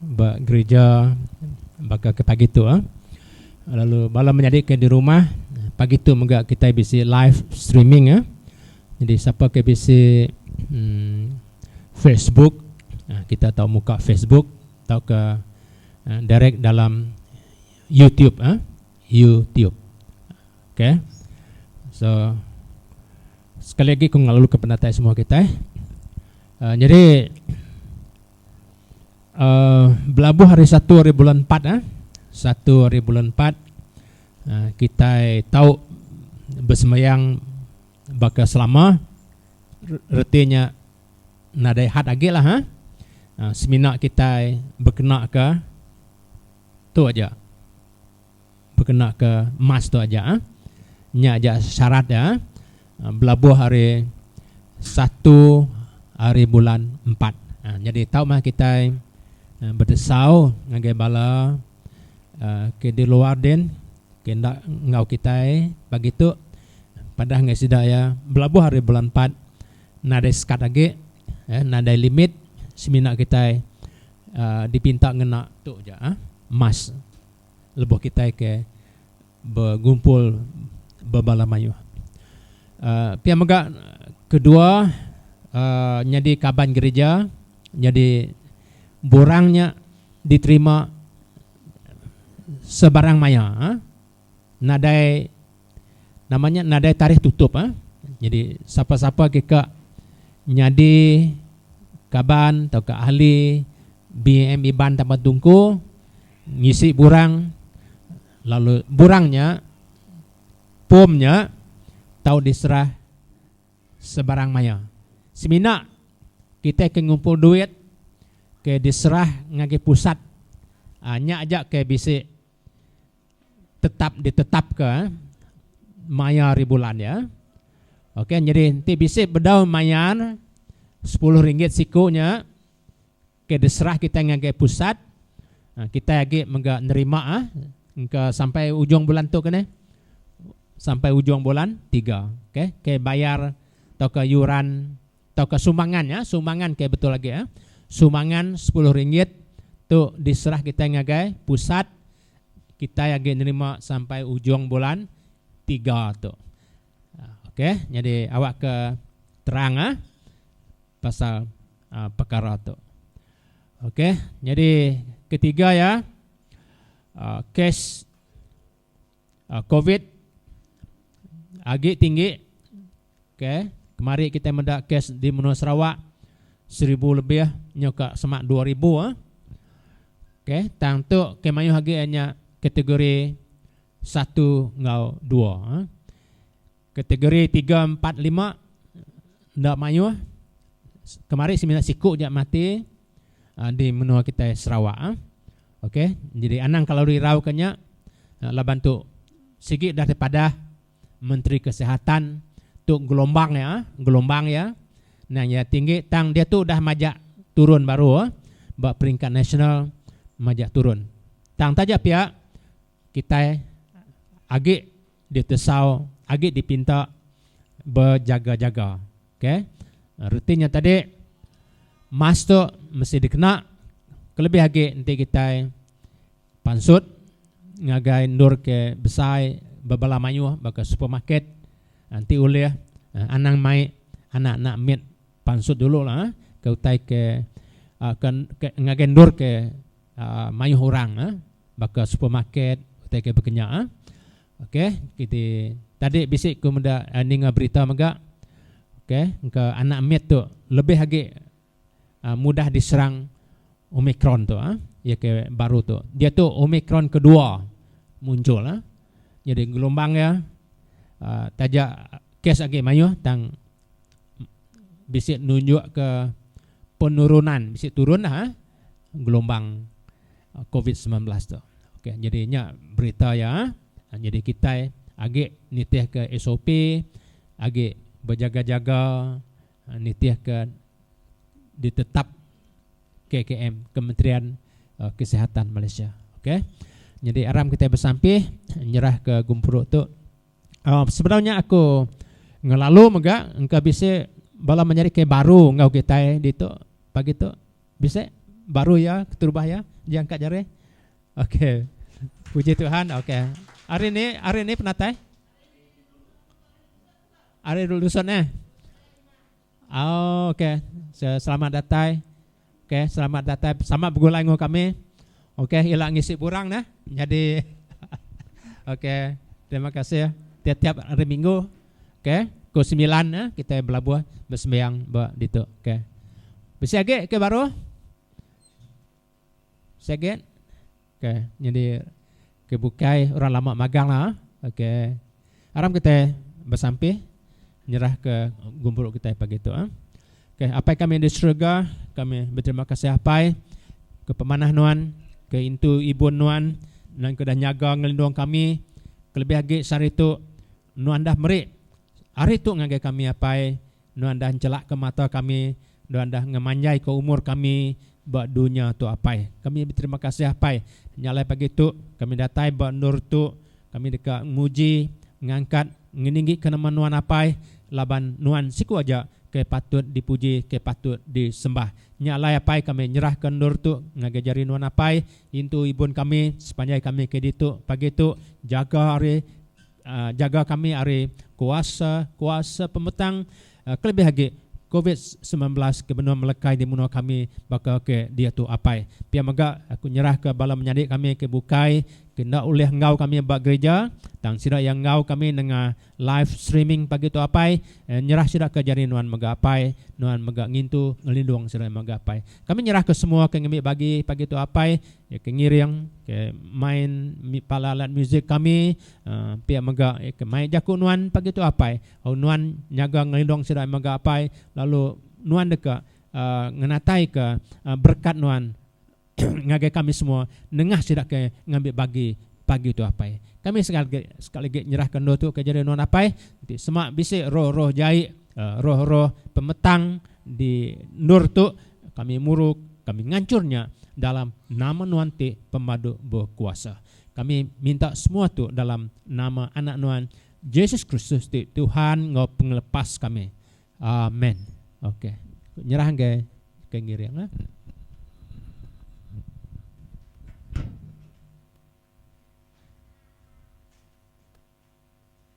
Ba gerija baka ke pagi tu lalu bala menyadi ke di rumah pagi tu mega kitai bisi live streaming jadi sapa ke bisi Facebook kita tau muka Facebook tauka direct dalam YouTube YouTube ok so sekali agi ku ngelalu ke penatai semua kitai nyadi. uh, belabuh hari satu hari bulan empat eh. Satu hari bulan empat uh, kita tahu bersemayang baka selama retinya nadai hat agi lah ha. Uh, semina kita berkena ke tu aja. bekena ke emas tu aja ah. Nya aja syarat dia ah. Belabuh ari satu ari bulan empat. Ah nyadi tau meh kitai bedesau ngagai bala ke di luar din ke enda enggau kitai pagi tu padah ngagai sida iya belabuh ari bulan empat nadai sekat agi eh nadai limit semina kitai dipinta ngena tu aja ah emas. lebuh kitai ke begumpul ba bala mayuh. Pia mega kedua nyadi kaban gerija nyadi borang nya diterima sebarang maya nadai. Nama nya nadai tarikh tutup ah. Nyadi sapa-sapa ke ka nyadi kaban tauka ahli BAM Iban Taban Tungku ngisi burang lalu burang nya pom nya tau diserah sebarang maya. Semina kitai ke ngumpul duit ke diserah ngagai pusat ah nya aja ke bisi tetap ditetapka maya ari bulan iya. Okey nyadi enti bisi bedau mayar sepuluh ringgit siku nya ke diserah kitai ngagai pusat kitai agi mega nerima engka sampai ujung bulan tu ke nih sampai ujung bulan tiga okey ke bayar tauka yuran. tauka sumbangan nya sumbangan ke betul agi eh sumbangan sepuluh ringgit tu diserah kitai ngagai pusat kitai agi nerima sampai ujung bulan tiga tu ok nyadi awak ke terang eh pasal pekara tu ok nyadi ketiga iya kes. covid agi tinggi ke kemari kitai meda kes di menua Sarawak seribu lebih nyau ka sema dua ribu ke tang tu ke mayuh agi iya nya kategori satu enggau dua kategori tiga empat lima enda mayuh kemari semina siku ja mati. di menua kitai Sarawak ah ok nyadi anang kalau rirau ka nya laban tu sigi dah dipadah menteri kesihatan tu gelombang iya ah gelombang iya nang iya tinggi tang diatu dah majak turun baru ba peringkat nasional majak turun tang taja pia Kitai agi ditesau, agi dipinta bejaga-jaga. Ok. Reti nya tadi, emas tu mesti dikena kelebih agi enti kitai pansut ngagai endur ke besai ba bala mayuh baka supermarket enti ulih anang mai anak-anak mit pansut dulu laah ke utai ke ngagai endur ke Mayuh orang baka supermarket utai ke bekenya. Ok kiti tadi bisi ku meda ninga berita mega ok engka anak mit tu lebih agi mudah diserang omicron tu iya ke baru tu diatu omicron kedua munjul nyadi gelombang iya taja kes agi mayuh tang bisi nunjukka penurunan bisi turun dah gelombang covid semilan belas tu ok jadi nya berita iya jadi kitai agi nitihka sop agi bejaga jaga nitihka ditetap KKM kementerian kesihatan malaysia ok jadi aram kitai besampih nyerahka gempuru tu. Sebedau nya aku ngelalu mega engka bisi bala menyadi ke baru enggau kitai ditu pagi tu. Bisi baru iya keterubah iya jang ka jari. Ok. Puji Tuhan. Ok. Hari ni hari ni penatai? Hari dulu dusun eh. Auu ok selamat datai ok selamat datai sama begulai enggau kami ok ila ngisi burang neh nyadi ok terima kasih tiap tiap hari minggu ok pukul semilan neh kitai belabuh besembiang ba ditu ok bisi agi ke baruh. Saget okay nyadi okay bukai orang lama magang lah okay aram kitai besampih nyerah ke gumuru kitai pagi tu ah okay apai kami di serega kami beterima kasih apai ke pemanah nuan ke intu ibun nuan nuan ke dah nyaga ngelindung kami kelebih agi sehari tu nuan dah meri hari tu ngagai kami apai Nuan dah nchelakka mata kami, Nuan dah ngemanjaika umur kami ba dunya tu Apai. Kami beterima kasih Apai, nya alai pagi tu kami datai ba endur tu kami deka muji, ngangkat, ngeninggika nama Nuan Apai laban Nuan siku aja ke patut dipuji ke patut disembah. Nya alai Apai kami nyerahka endur tu ngagai jari Nuan Apai, intu ibun kami sepanjai kami ke ditu pagi tu, jaga ari. Jaga kami ari kuasa-kuasa pembetang, kelebih agi Covid semilan belas ke benung melekai di menua kami baka ke diatu apai. Pia mega, aku nyerahka bala menyadi kami ke bukai ke enda ulih enggau kami ba gerija, tang sida iya enggau kami nengah live streaming pagi tu apai, nyerah sida ke jadi nuan mega apai, nuan mega ngintu ngelindung sida mega apai. Kami nyerahka semua ke ngembi bagi pagi tu apai. Iya ke ngiring, ke main pala alat musik kami, pia mega iya ke mai jaku nuan pagi tu apai. Au nuan nyaga ngelindung sida mega apai lalu nuan deka ngenataika berekat nuan ngagai kami semua nengah sida ke ngambi bagi pagi tu apai. Kami sekali lagi nyerahka endur tu ke jari nuan apai. Enti sema bisi roh-roh jai, roh-roh pemetang di endur tu. Kami muruk, kami ngancur nya dalam nama nuan ti pemadu bekuasa. Kami minta semua tu dalam nama Anak nuan, Jesus Kristus ti Tuhan enggau Pengelepas kami. Amen. Okey. Ku nyerah enggai ke ngiring ah.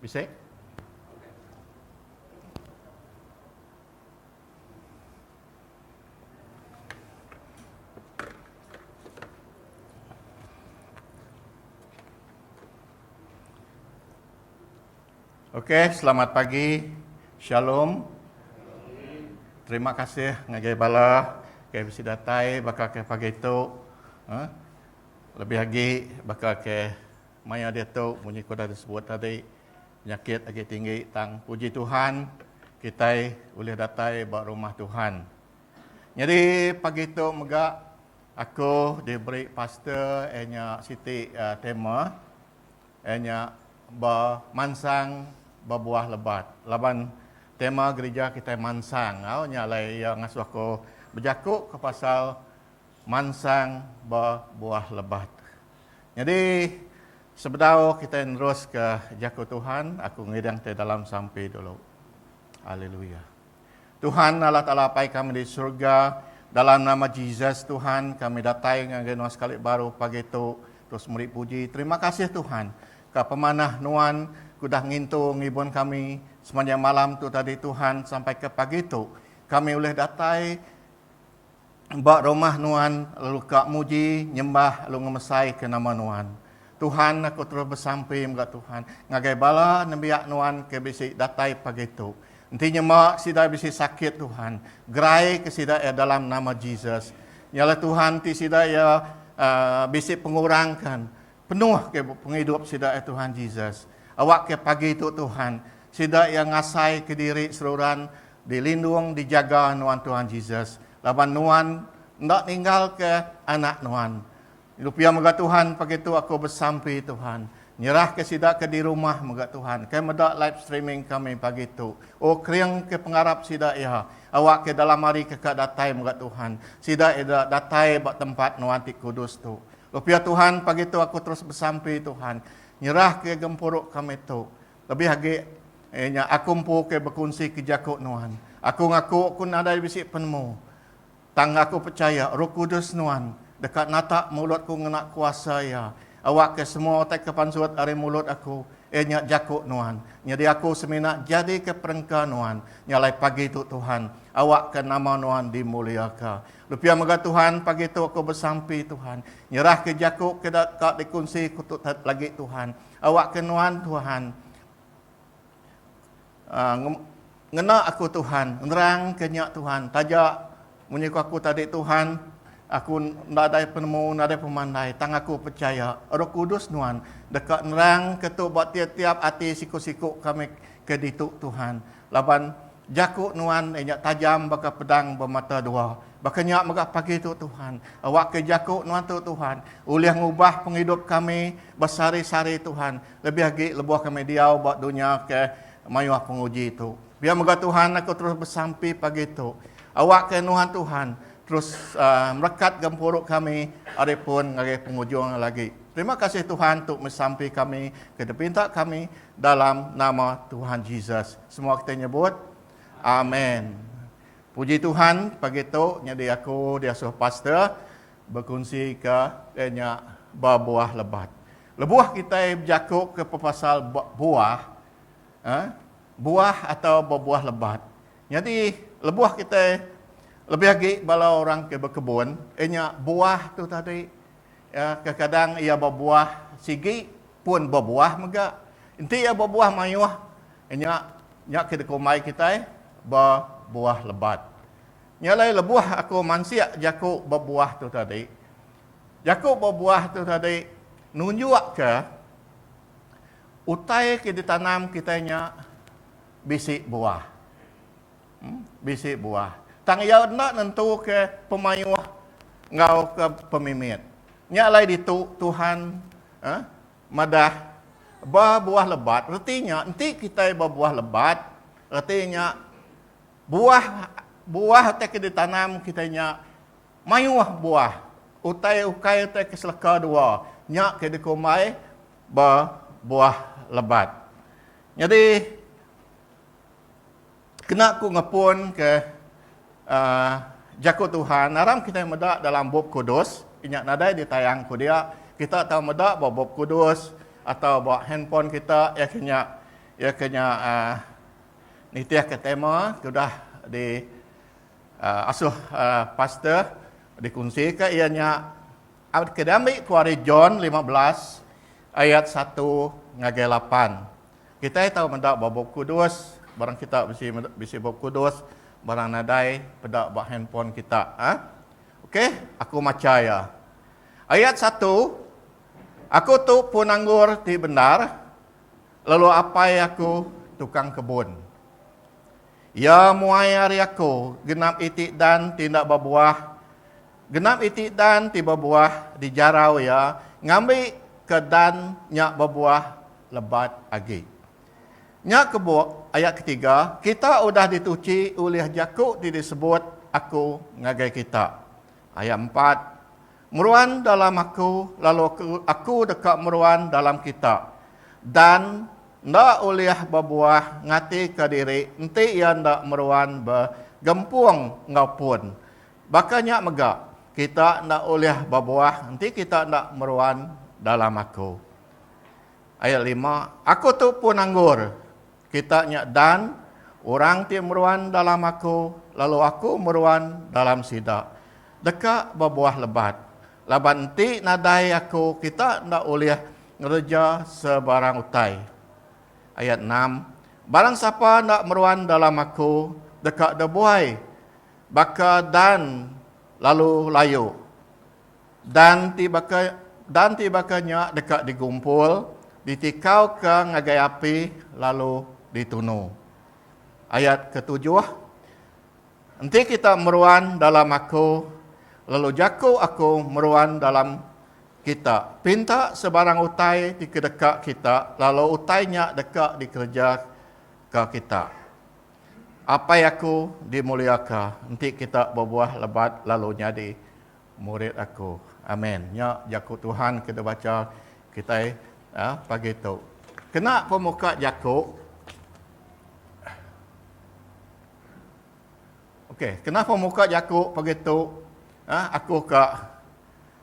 Bisik. Ok, selamat pagi. Shalom. Terima kasih ngagai bala ke bisi datai baka ke pagi tu. Ha? Lebih agi baka ke Maya diatu munyi ke udah disebut tadi penyakit agi tinggi tang puji Tuhan kitai ulih datai ba rumah Tuhan. Nyadi pagi tu mega aku diberi pastor iya nya siti tema iya nya bemansang bebuah lebat laban tema gerija kitai mansang enggau nya alai iya ngasuh aku bejaku ke pasal Mansang ba buah lebat. Nyadi, sebedau kitai neruska Jaku Tuhan, aku ngidang ti dalam sampi dulu. Haleluya. Tuhan, Allah Taala Apai kami di surga, dalam nama Jesus, Tuhan, kami datai ngagai Nuan sekali baru pagi tu, terus meri puji. Terima kasih, Tuhan, ka pemanah Nuan ke udah ngintu ngibun kami semanjang malam tu tadi, Tuhan, sampai ke pagi tu, kami ulih datai, ba rumah nuan lalu ka muji, nyembah lalu ngemesaika nama nuan. Tuhan, aku terus besampi mega Tuhan, ngagai bala nembiak nuan ke bisi datai pagi tu. Enti nyema sida bisi sakit Tuhan, geraika sida iya dalam nama Jesus. Nyalah Tuhan enti sida iya bisi pengurang kan, penuhka pengidup sida iya Tuhan Jesus. Awakka pagi tu Tuhan, sida iya ngasaika diri seruran Dilindung dijaga nuan Tuhan Jesus laban nuan enda ninggalka anak nuan. Lu pia mega Tuhan pagi tu aku besampi Tuhan nyerahka sida ke dirumah mega Tuhan ke meda live streaming kami pagi tu. Oh keringka pengarap sida iya awakka dalam hari ke ka datai mega Tuhan sida eda datai ba tempat nuan ti kudus tu. Lu pia Tuhan pagi tu aku terus besampi Tuhan nyerahka gempuru kami tu Lebih agi, iya nya, aku empu ke bekunsi ke jaku nuan. Aku ngaku ku nadai bisi penemu. Tang aku pechaya Roh Kudus nuan deka natak mulutku ngena kuasa iya. Awakka semua utai ke pansut ari mulut aku, iya nya jaku nuan. Nyadi aku semina jadika perengka nuan nyalai pagi tu Tuhan. Awakka nama nuan dimuliaka. Lupia mega Tuhan, pagi tu aku besampi Tuhan. Nyerahka jaku ke deka dikunsi ku Tutet lagi Tuhan. Awakka nuan, Tuhan. Ngena aku, Tuhan. Nerangka nya, Tuhan. Taja munyi ku aku tadi, Tuhan, aku enda nadai penemu, nadai pemandai, tang aku pechaya Roh Kudus nuan deka nerangka tu ba tiap-tiap ati siku-siku kami ke ditu, Tuhan. Laban, jaku Nuan iya nya tajam baka pedang bemata dua. Baka nya mega pagi tu, Tuhan, awakka jaku Nuan tu, Tuhan, ulih ngubah pengidup kami besehari-sehari, Tuhan, lebih agi lebuh kami diau ba dunya ke mayuh penguji tu. Pia mega, Tuhan, aku terus besampi pagi tu, awakka Nuan, Tuhan, terus merekat gempuru kami ari pun ngagai pengujung lagi. Terima kasih, Tuhan, tu mesampi kami ke dipinta kami, Dalam nama Tuhan Jesus semua kita nyebut amen. Puji Tuhan pagi tu nyadi aku diasuh pastor berkunsi ke nya berbuah lebat. Lebuh kita berjaku ke pepasal buah eh, buah atau berbuah lebat. Nyadi lebuh kita lebih agi bala orang ke berkebun, inya buah tu tadi Iya kekadang iya bebuah sigi pun bebuah mega. Enti iya bebuah mayuh nya nya ke dikumbai kitai bebuah lebat. Nya alai lebuh aku mansik jaku bebuah tu tadi, jaku bebuah tu tadi nunjukka utai ke ditanam kitai nya bisi buah. Bisi buah. Tang iya enda nentuka pemayuh enggau ke pemimit. Nya alai ditu Tuhan madah ba buah lebat reti nya enti kitai ba buah lebat reti nya buah buah utai ke ditanam kitai nya mayuh buah. Utai ukai utai ke seleka dua nya ke dikumbai ba buah lebat. Nyadi. kena ku ngepun ke jaku Tuhan aram kitai meda dalam bup kudus inya nadai di tayang ku dia kita tau meda ba bup kudus atau ba handphone kita iya ke nya iya ke nya nitih ke tema ke udah di asuh pastor di kunsi ka iya nya ke diambi ku ari John lima belas ayat satu ngagai lapan. Kitai tau meda ba Bup Kudus, barang kita bisi bisi Bup Kudus, barang nadai peda ba handphone kita. Ha? Okey, aku macha iya. Ayat satu, Aku tu pun anggur ti bendar, lalu apai aku tukang kebun. Iya muai ari aku genap iti dan ti enda babuah Genap iti dan ti bebuah dijarau iya ngambi ke dan nya bebuah lebat agi. Nya kebuk, ayat ketiga, kita udah dituchi ulih jaku ti disebut Aku ngagai kita. Ayat empat, Meruan dalam Aku lalu Aku deka meruan dalam kita. Dan enda ulih bebuah ngatika diri enti iya enda meruan begempung enggau pun. Baka nya mega, kita enda ulih bebuah enti kita enda meruan dalam aku. Ayat lima, Aku tu pun anggur kita nya dan orang ti meruan dalam aku lalu aku meruan dalam sida, deka bebuah lebat. Laban enti nadai aku kita enda ulih ngereja sebarang utai. Ayat enam, Barang sapa enda meruan dalam aku deka debuai Baka Dan lalu layu. Dan ti baka Dan ti baka nya deka digumpul, ditikauka ngagai api lalu ditunu. Ayat ketujuh, Enti kita meruan dalam Aku, lalu jaku Aku meruan dalam kita, pinta sebarang utai dikedeka kita lalu utai nya deka dikereja ka kita. Apai aku dimuliaka, enti kita bebuah lebat lalu nyadi murid aku. Amen. Nya jaku Tuhan ke dibacha kitai pagi tu. Kena pemuka jaku Ok, kena pemuka jaku pagi tu aku ka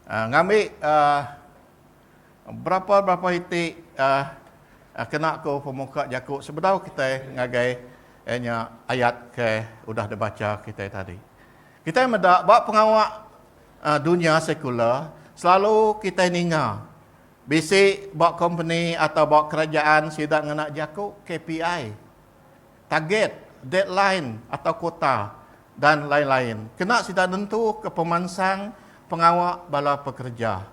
ngambi Berapa-berapa iti kena ku pemuka jaku sebedau kitai ngagai nya ayat ke udah dibacha kitai tadi. Kitai meda ba pengawa dunya sekular selalu kitai ninga bisi ba kompeni atau ba kerajaan sida ngena jaku KPI, target, deadline atau quota dan lain-lain kena sida nentuka pemansang pengawa bala pekereja.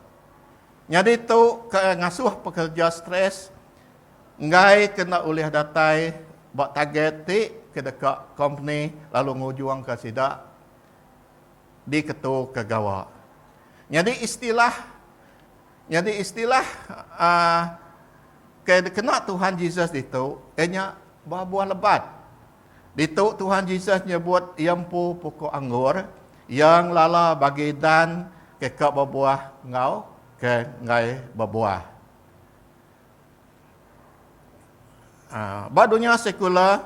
Nyadi tu ke ngasuh pekerja stress enggai ke enda ulih datai ba target ti ke deka kompeni lalu ngujungka sida diketuka gawa. Nyadi istilah nyadi istilah uhh ke dikena Tuhan Jesus ditu iya nya ba buah lebat. Ditu Tuhan Jesus nyebut Iya empu pukuk anggur Iya ngelala bagi dan ke ka bebuah enggau ke enggai bebuah. Ba dunya sekula,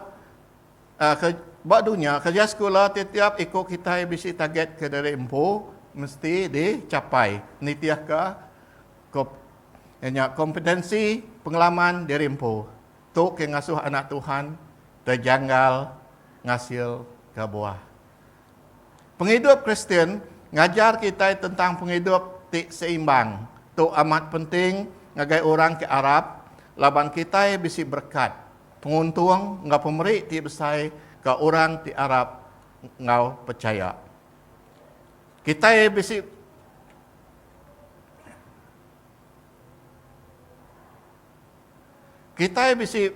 ba dunya kerja sekula tetiap iku kitai bisi target ke diri empu mesti dichapai nitihka kompetensi pengalaman diri empu. Tu ke ngasuh anak Tuhan tejanggal ngasilka buah. Pengidup Kristian ngajar kitai tentang pengidup ti seimbang. Tu amat penting ngagai orang ke arap laban kitai bisi berekat, penguntung enggau pemeri ti besai ke orang ti arap enggau pechaya. Kitai bisi Kitai bisi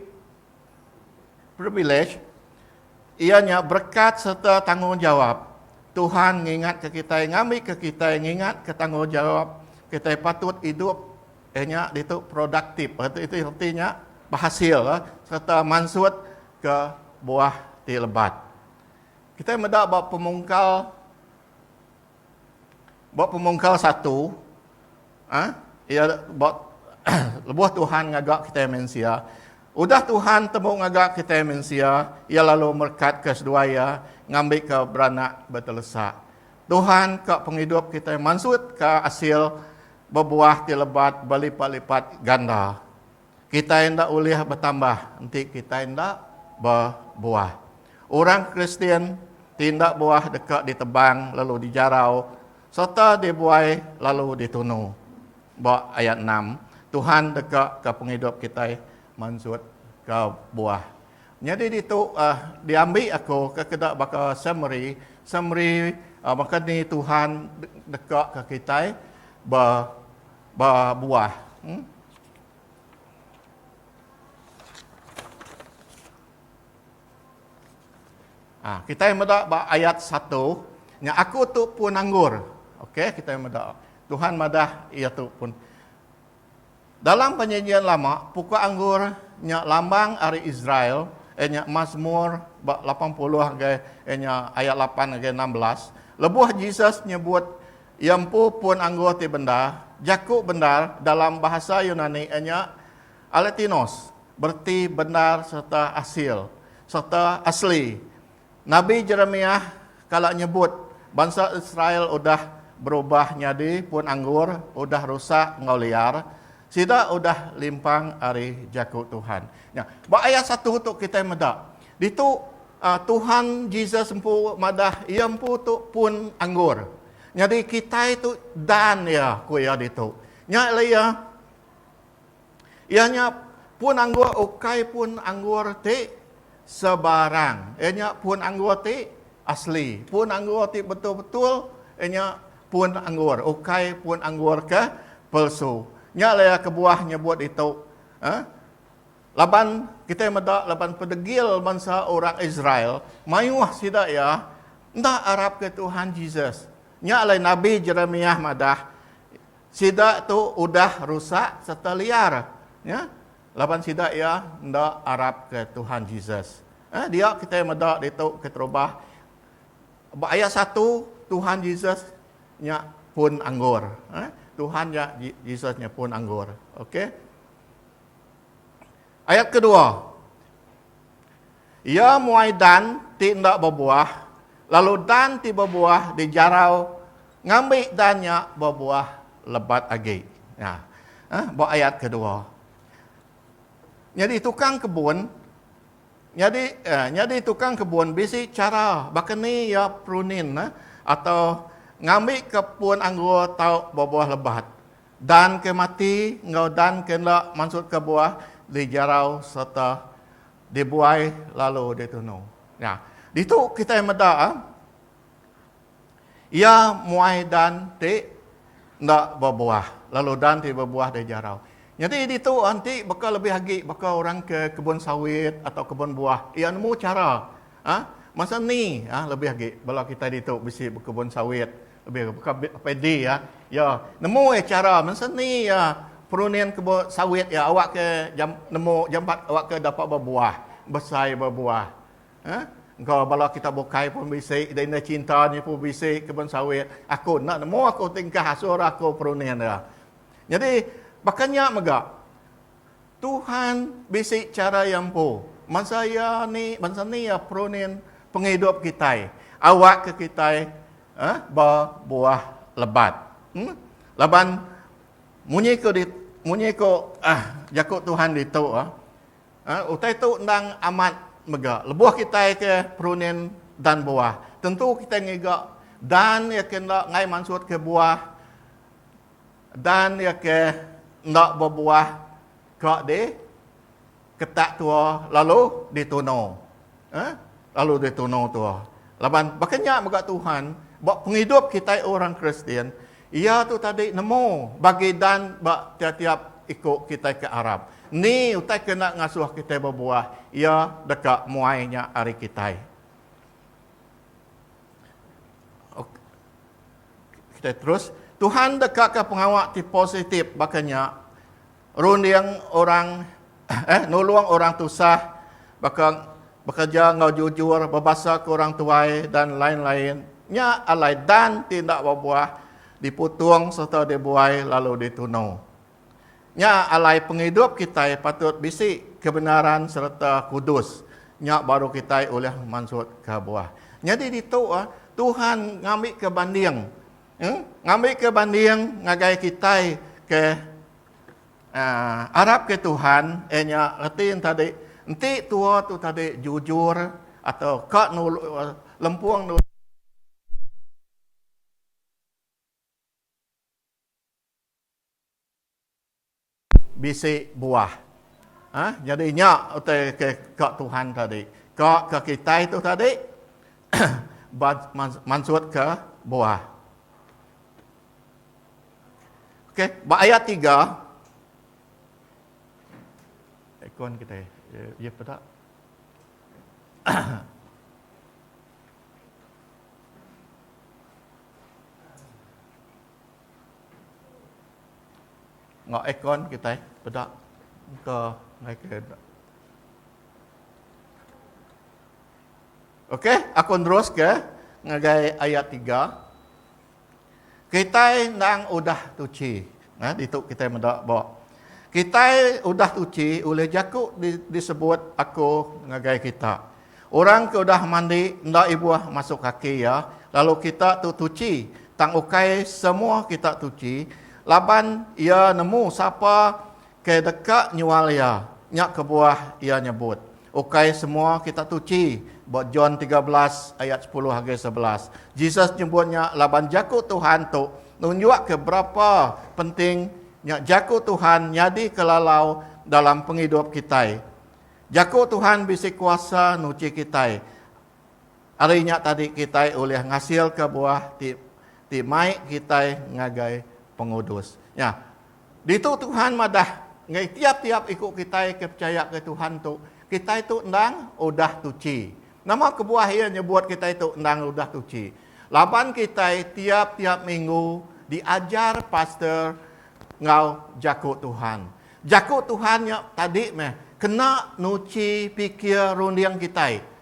privilej iya nya berekat sereta tanggungjawap. Tuhan ngingatka kitai ngambika kitai ngingatka tanggungjawap kitai patut idup iya nya ditu produktif reti nya behasil sereta mansut ke buah ti lebat. Kitai meda ba pemungkal. Ba pemungkal satu, iya ba lebuh Tuhan ngaga kitai mensia, udah Tuhan tembu ngaga kitai mensia, iya lalu merekatka seduai iya ngambika beranak betelesa. Tuhan ka pengidup kitai mansutka asil bebuah ti lebat belipat-lipat ganda. Kitai enda ulih betambah enti kitai enda bebuah. Orang Kristian ti enda buah deka ditebang lalu dijarau sereta dibuai lalu ditunu. Ba ayat enam, Tuhan deka ka pengidup kitai mansut ka buah. Nyadi ditu diambi aku kekeda baka summary, summary baka ni Tuhan deka ka kitai bebuah. Ah, kita meda ba ayat 1, nya aku tu pun anggur. Okey, kita meda. Tuhan madah ia tu pun. Dalam penyanyian lama, pokok anggur nya lambang ari Israel, eh, nya Mazmur ba 80 agai eh, nya ayat 8 agai 16. Lebuh Jesus nyebut Iya empu pun anggur ti bendar. Jaku bendar dalam bahasa Yunani nya alektinos, bereti bendar sereta asil, sereta asli. Nabi Jeremiah kala nyebut bansa Israel udah berubah nyadi pun anggur udah rusak enggau liar, sida udah limpang ari jaku Tuhan. Nya, ba ayat satu tu kitai meda Ditu, Tuhan Jesus empu madah iya empu tu pun anggur. Nyadi kitai tu dan iya, ku iya ditu. Nya alai iya, iya nya pun anggur ukai pun anggur ti sebarang. Iya nya pun anggur ti asli, pun anggur ti betul-betul, iya nya pun anggur, ukai pun anggur ke palsu. Nya alai iya kebuah nyebut ditu, eh, Laban kitai meda laban pedegil bansa orang Israel mayuh sida iya enda arapka Tuhan Jesus. Nya alai nabi Jeremiah madah, Sida tu udah rusak serta liar, ya, laban sida iya enda arapka Tuhan Jesus. Eh, dia kitai meda ditu keterubah ba ayat satu Tuhan Jesus nya pun anggur. Eh, Tuhan nya Jesus nya pun anggur. Okey. Ayat kedua, Iya muai dan ti enda bebuah, lalu dan ti bebuah dijarau ngambi dan nya bebuah lebat agi. Nya. Ha, ba ayat kedua. Nyadi tukang kebun nyadi eh, nyadi tukang kebun bisi cara baka ni iya prunin eh, atau ngambi ke pun anggur tau bebuah lebat. Dan ke mati enggau dan ke enda mansut ke buah dijarau sereta dibuai lalu ditunu. Nya, ditu kitai meda iya muai dan ti enda bebuah lalu dan ti bebuah dijarau. Nyadi ditu enti baka lebih agi baka orang ke kebun sawit atau kebun buah iya nemu chara. Masa ni lebih agi bala kitai ditu bisi bekebun sawit Lebih baka padi iya. Iya nemu iya chara mun seni iya perunding kebun sawit iya awakka nemu jampat awakka dapat bebuah, besai bebuah. Heh engka bala kita bukai pun bisi dei enda cinta nya pun bisi kebun sawit. Aku enda nemu aku ti engkah asur aku perunding dia. Nyadi baka nya mega Tuhan bisi chara iya empu. Bansa iya ni, bansa ni iya perunin pengidup kitai. Awakka kitai eh, ba buah lebat. Hmm? Laban munyi ko di munyi ko ah, jaku Tuhan ditu ah, ah, utai tu endang amat mega. Lebuh kitai ke perunin dan buah, tentu kitai ngiga dan iya ke enda ngai mansut ke buah Dan iya ke enda bebuah ka di ketak tua lalu di tunu. Eh? Lalu di tunu tua. Laban baka nya mega Tuhan ba pengidup kitai orang Kristian, iya tu tadi nemu bagi dan ba tiap-tiap iku kitai ke arap. Ni utai ke enda ngasuh kitai bebuah, iya deka muai nya ari kitai. Kitai terus, Tuhan dekaka pengawa ti positif baka nya, runding orang eh nulung orang tusah, baka bekerja enggau jujur, bebasa ke orang tuai dan lain-lain. Nya alai dan ti enda bebuah diputung sereta dibuai lalu ditunu. Nya alai pengidup kitai patut bisi kebenaran sereta kudus. Nya baru kitai ulih mansutka buah. Nyadi ditu Tuhan ngambika banding ngambika banding ngagai kitai ke arapka Tuhan iya nya reti tadi enti tua tu tadi jujur atau ka lempung nulung Bisi buah. Ha, nyadi nya utai ke ka Tuhan tadi. Ka ke kitai tu tadi ba mansutka buah. Okey, ba ayat tiga. Ikon kitai. Ye peda. Enggau aircon kitai peda muka ngai ke enda. Okey, aku neruska ngagai ayat tiga. Kitai endang udah tuchi. Nah, ditu kitai meda ba. Kitai udah tuchi ulih jaku disebut aku ngagai kita. Orang ke udah mandi enda ibuh masuk kaki iya, lalu kita tu tuchi, tang ukai semua kita tuchi, laban iya nemu sapa ke deka nyual iya, nya kebuah iya nyebut, ukai semua kita tuchi, ba John tiga belas ayat sepuluh ngagai sebelas. Jesus nyebut nya laban Jaku Tuhan tu nunjukka berapa penting nya Jaku Tuhan nyadika lalau dalam pengidup kitai. Jaku Tuhan bisi kuasa nuchi kitai. Ari nya tadi kitai ulih ngasilka buah ti ti mai kitai ngagai pengudus. Nya. Ditu Tuhan madah ngagai tiap-tiap iku kitai ke pechaya ngagai Tuhan tu, kitai tu endang udah tuchi. Nama kebuah iya nyebut kitai tu endang udah tuchi? Laban kitai tiap-tiap minggu diajar pastor enggau Jaku Tuhan. Jaku Tuhan nya tadi meh kena nuchi pikir runding kitai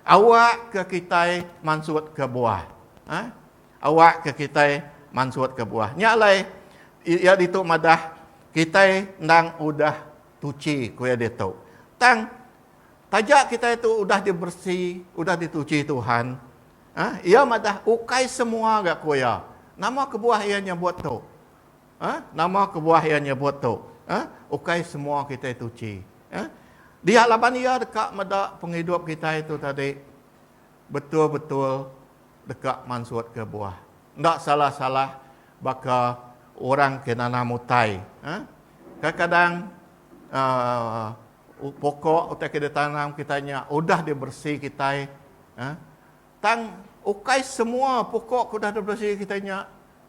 awakka kitai mansut kebuah. Ha? Awakka kitai mansut kebuah. Nya alai iya ditu madah kitai endang udah tuchi ku iya ditu. Tang taja kitai tu udah diberesi, udah dituchi Tuhan, ha? iya madah ukai semua ga ku iya. Nama kebuah iya nyebut tu? Huh? Nama kebuah iya nyebut tu? Huh? Ukai semua kitai tuchi. Huh? Dia laban iya deka meda pengidup kitai tu tadi betul-betul deka mansutka buah. Enda salah-salah baka orang ke nanam utai. Huh? Kadang-kadang uh, pokok utai ke ditanam kitai nya udah diberesi kitai. Huh? Tang ukai semua pokok ke udah diberesi kitai nya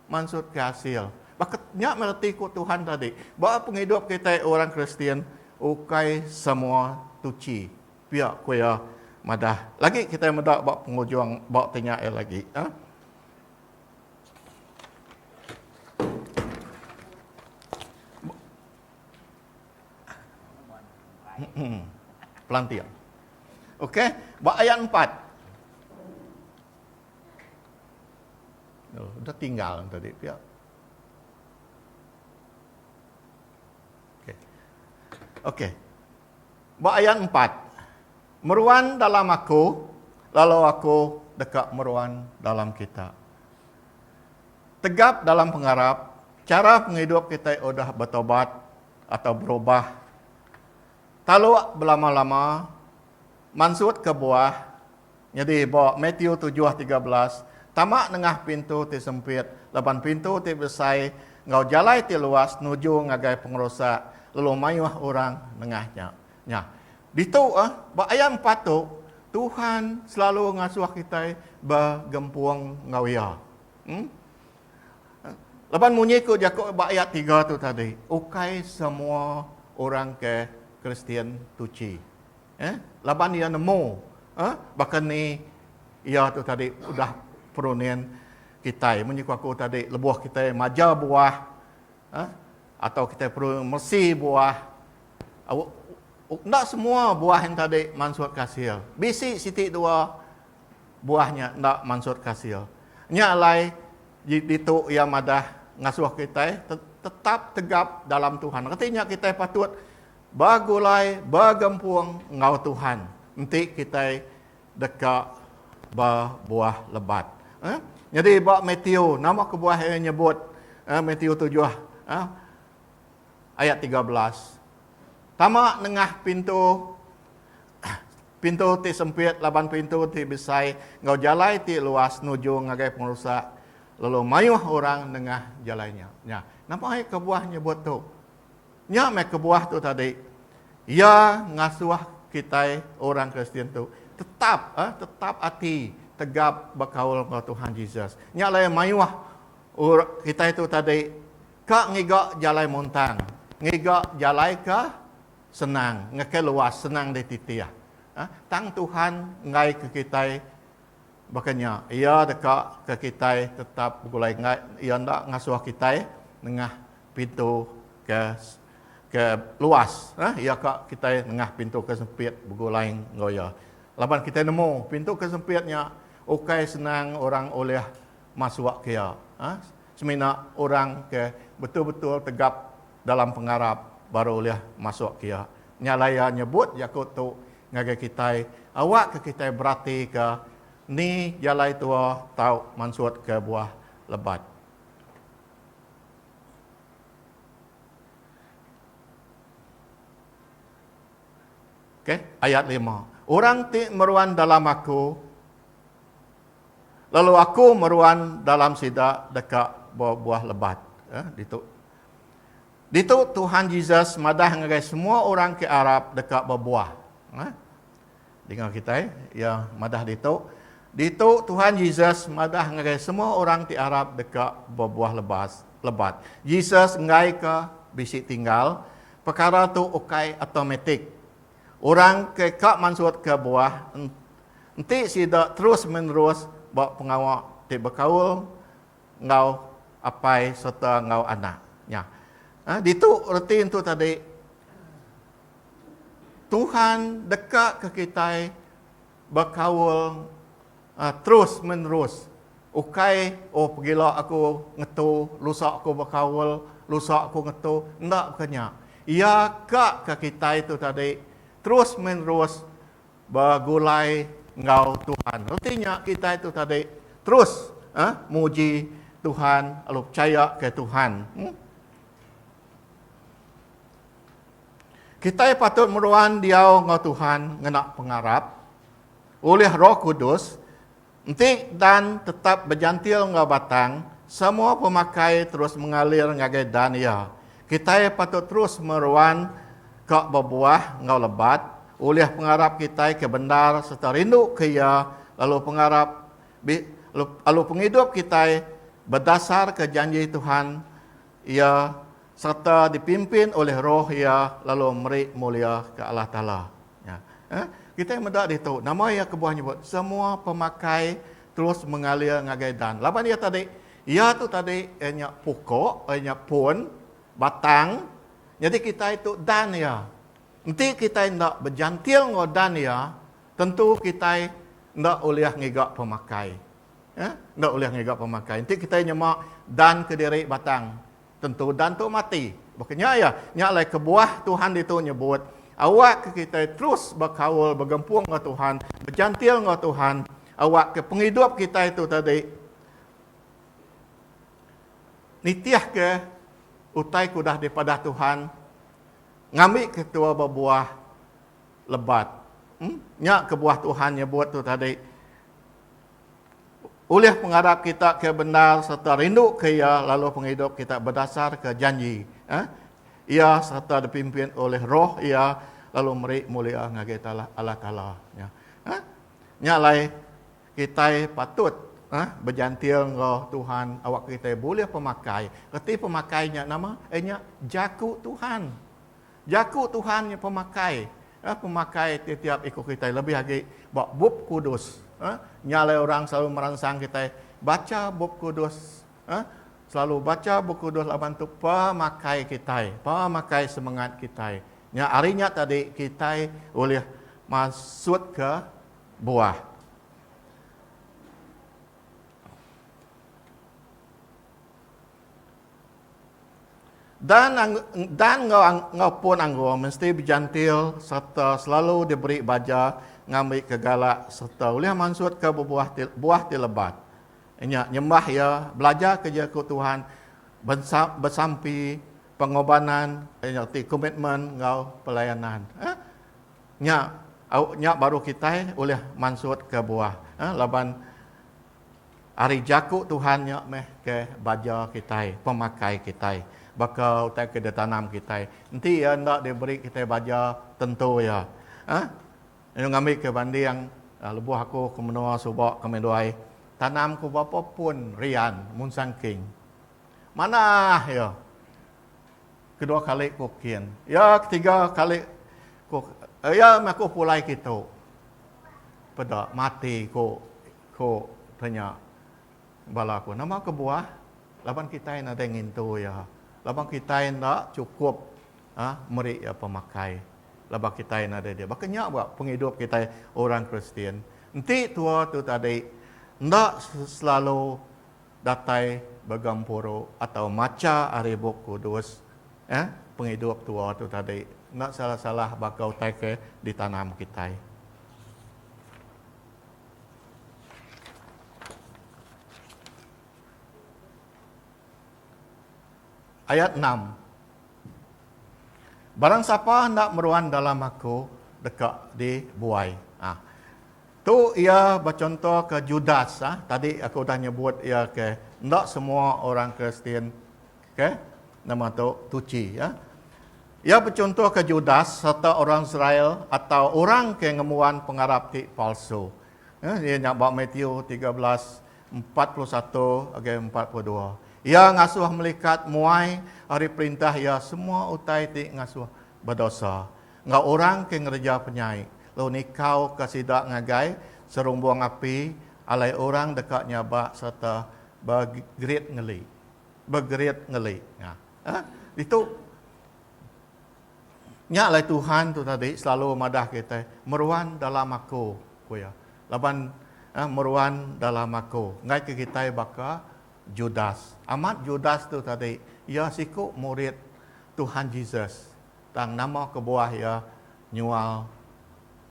Mansut ke asil. Baka nya meh reti ku Tuhan tadi, ba pengidup kitai orang Kristian, ukai semua tuchi. Pia ku iya madah. Lagi kitai meda ba pengujung ba ti nya iya lagi. Aa. Pelanting. Okey, ba ayat empat. Aduh, udah tinggal nang tadi pia. Okey. Okey. Ba ayat empat. Meruan dalam aku, lalu aku deka meruan dalam kita. Tegap dalam pengarap, chara pengidup kitai udah betaubat atau berubah. Taluk belama-lama, mansut kebuah, Nyadi, ba Matiu tujuh tiga belas, Tama nengah pintu ti sempit, laban pintu ti besai enggau jalai ti luas nuju ngagai pengerusak, lalu mayuh orang nengah nya. Nya. Ditu, ba ayat empat tu, Tuhan selalu ngasuh kitai begempung enggau Iya. Em. Laban munyi ku jaku ba ayat tiga tu tadi, ukai semua orang ke Kristian tuchi. Eh, laban iya nemu, eh, baka ni iya tu tadi udah perunin kitai. Munyi ku aku tadi, lebuh kitai maja buah, eh, atau kitai peru mesi buah, enda semua buah yang tadi mansut kasil. Bisi siti dua buah nya enda mansut kasil. Nya alai di ditu iya madah ngasuh kitai tetap tegap dalam Tuhan. Reti nya kitai patut Begulai begempung enggau Tuhan enti kitai deka bebuah lebat. Eh? Nyadi ba Matthew, nama kebuah iya nyebut eh, Matthew tujuh eh, ayat tiga belas. Tama nengah pintu pintu ti sempit laban pintu ti besai enggau jalai ti luas nuju ngagai pengerusak lalu mayuh orang nengah jalai nya. Nya, napa ai kebuah nyebut tu? Nya meh kebuah tu tadi iya ngasuh kitai orang Kristian tu tetap eh tetap ati tegap bekaul enggau Tuhan Jesus. Nya alai mayuh or kitai tu tadi ka ngiga jalai muntang, ngiga jalai ke senang, ngekai luas, senang dititih. Eh tang Tuhan enggaika kitai. Baka nya, Iya deka ke kitai tetap begulai enggai Iya enda ngasuh kitai nengah pintu ke ke luas. Iya ka kitai nengah pintu ke sempit begulai enggau Iya. Laban kitai nemu pintu ke sempit nya ukai senang orang ulih masuk ke iya. Semina orang ke betul-betul tegap dalam pengarap baru ulih masuk ke iya. Nya alai iya nyebut jaku tu ngagai kitai, awakka kitai beratika ni jalai tua tau mansutka buah lebat. Ok, ayat lima. Orang ti meruan dalam Aku, lalu Aku meruan dalam sida deka bebuah lebat. Eh, ditu Ditu Tuhan Jesus madah ngagai semua orang ke arap deka bebuah. Nah. Dinga kitai, iya madah ditu, Ditu Tuhan Jesus madah ngagai semua orang ti arap deka bebuah lebas, lebat. Jesus enggaika bisi tinggal, pekara tu ukai automatik. Orang ke ka mansutka buah enti sida terus-menerus ba pengawa ti bekaul enggau apai sereta enggau anak nya. Nah, ditu reti entu tadi Tuhan deka ke kitai bekaul uh, terus menerus. Ukai oh pegila aku ngetu, lusa aku bekaul, lusa aku ngetu, enda bukannya. Ia ka ke kitai tu tadi terus menerus begulai enggau Tuhan. Reti nya kitai tu tadi terus eh, muji Tuhan lalu percaya ke Tuhan. Hmm? Kitai patut meruan diau enggau Tuhan ngena pengarap oleh Roh Kudus Enti dan tetap bejantil enggau batang, semua pemakai terus mengalir ngagai dan iya. Kitai patut terus meruan ka bebuah enggau lebat ulih pengarap kitai ke bendar sereta rindu ke Iya lalu pengarap lalu pengidup kitai bedasarka janji Tuhan iya Sereta dipimpin olih roh iya lalu meri mulia ke Allah Taala. Nya. Eh, kitai meda ditu nama iya kebuah nyebut semua pemakai terus mengalir ngagai dan. Laban iya tadi, iya tu tadi eh, nya pokok, eh, nya pun, batang. Nyadi kitai tu dan iya. Enti kitai enda bejantil enggau dan iya, tentu kitai enda ulih ngiga pemakai. Eh, enda ulih ngiga pemakai. Enti kitai nyema dan kediri batang, Tentu Dan tu mati. Baka nya iya, nya alai kebuah Tuhan ditu nyebut, Awakka kitai terus bekaul begempung enggau Tuhan, bejantil enggau Tuhan, awakka pengidup kitai tu tadi nitihka utai ke udah dipadah Tuhan, ngambika tua bebuah lebat. Em, nya kebuah Tuhan nyebut tu tadi. ulih pengarap kita ke bendar sereta rinduka Iya lalu pengidup kita bedasarka janji Iya sereta dipimpin ulih Roh Iya lalu meri mulia ngagai Allah Taala. Nya alai, kitai patut bejantil enggau Tuhan awakka kitai bulih pemakai. Reti pemakai nya nama? Iya nya jaku Tuhan. Jaku Tuhan nya pemakai eh, pemakai tiap-tiap iku kitai lebih agi ba Bup Kudus. Eh, nya alai orang selalu meransang kitai bacha Bup Kudus. Eh, selalu bacha Bup Kudus laban tu pemakai kitai, pemakai semengat kitai. Nya ari nya tadi kitai ulih masut ke buah. Dan dan enggau enggau pun anggur mesti bejantil sereta selalu diberi baja ngambika galak sereta ulih mansutka bebuah ti buah ti lebat. Nya nyembah iya, belajarka iya ku Tuhan bensa besampi pengobanan nya reti komitmen enggau pelayanan. Eh nya au nya baru kitai ulih mansutka buah eh laban Ari jaku Tuhan nya meh ke baja kitai, pemakai kitai, baka utai ke ditanam kitai. Enti iya enda diberi kitai baja tentu iya. Hah? Ayu ngambika banding lebuh aku ke menua suba ke Meduai, tanam ku berapa pun rian mun sangking. Manah iya. Kedua kali ku kin. Iya ketiga kali ku iya meh aku pulai kitu. Peda mati ku. Ko tanya bala aku, nama kebuah laban kitai nadai ngintu iya, laban kitai enda chukup a meri iya pemakai laban kitai nadai dia. Baka nya ba pengidup kitai orang Kristian, enti tua tu tadi enda selalu datai ba gempuru atau macha ari Bup Kudus, eh pengidup tua tu tadi enda salah-salah baka utai ke ditanam kitai. Ayat enam, Barang sapa enda meruan dalam Aku, deka dibuai. Ha. Tu iya bechontoka Judas. Ha. Tadi aku udah nyebut iya ke enda semua orang Kristian Ke nama tu tuchi ya. Iya bechuntuhka Judas sereta orang Israel atau orang ke ngembuan pengarap ti palsu. Ya, iya nya ba Matthew 13 41 agai 42. Iya ngasuh melikat muai ari perintah iya semua utai ti ngasuh bedosa enggau orang ke ngereja penyai lalu nikauka sida ngagai serumbung api alai orang deka nyabak sereta begerit ngeli. Bergerit ngeli. Nya. Hah? Ditu Nya alai Tuhan tu tadi selalu madah kitai, meruan dalam aku, ku iya. Laban eh, meruan dalam aku. Enggai ke kitai baka Judas. Amat Judas tu tadi, iya siku murid Tuhan Jesus. Tang nama kebuah iya nyual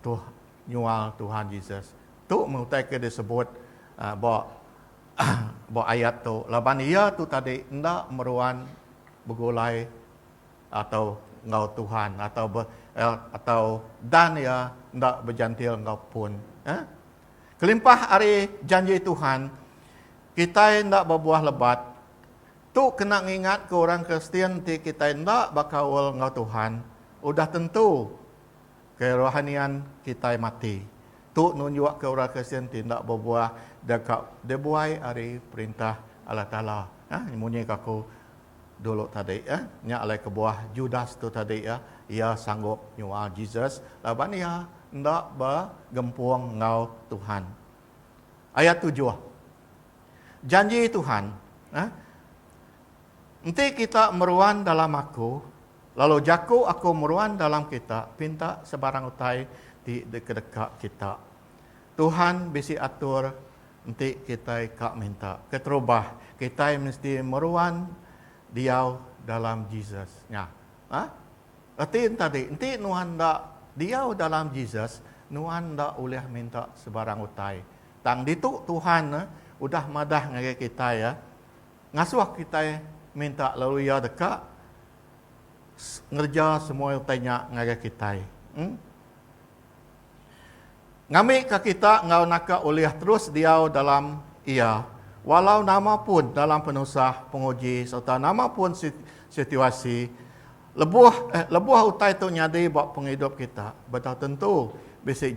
tuh nyual Tuhan Jesus. Tu meh utai ke disebut uh, ba Ba ayat tu, laban iya tu tadi enda meruan begulai atau enggau Tuhan atau be, eh, atau dan iya enda bejantil enggau pun. Eh? Kelimpah ari janji Tuhan, kitai enda bebuah lebat. Tu kena ngingatka orang Kristian enti kitai enda bekaul enggau Tuhan, udah tentu Kerohanian kitai mati. Tu nunjukka orang Kristian ti enda bebuah deka dibuai ari Perintah Allah Taala. Munyi ke aku dulu tadi, nya alai kebuah Judas tu tadi. Iya sanggup nyual Jesus laban iya enda begempung enggau Tuhan. Ayat tujuh. Janji Tuhan, Enti kita meruan dalam Aku, Lalu jaku aku meruan dalam kita pinta sebarang utai ti dikedeka kita. Tuhan bisi atur enti kitai ka minta. Keterubah, kitai mesti meruan diau dalam Jesus. Nya. Ha? Reti enta ti, enti nuan enda diau dalam Jesus, nuan enda ulih minta sebarang utai. Tang ditu Tuhan udah madah ngagai kitai, Ngasuh kitai minta lalu Iya deka ngereja semua utai nya ngagai kitai. Eng. Ngambika kita enggau naka ulih terus diau dalam Iya, walau nama pun dalam penusah, penguji sereta nama pun situasi. Lebuh eh, lebuh utai tu nyadi ba pengidup kita, betau tentu bisi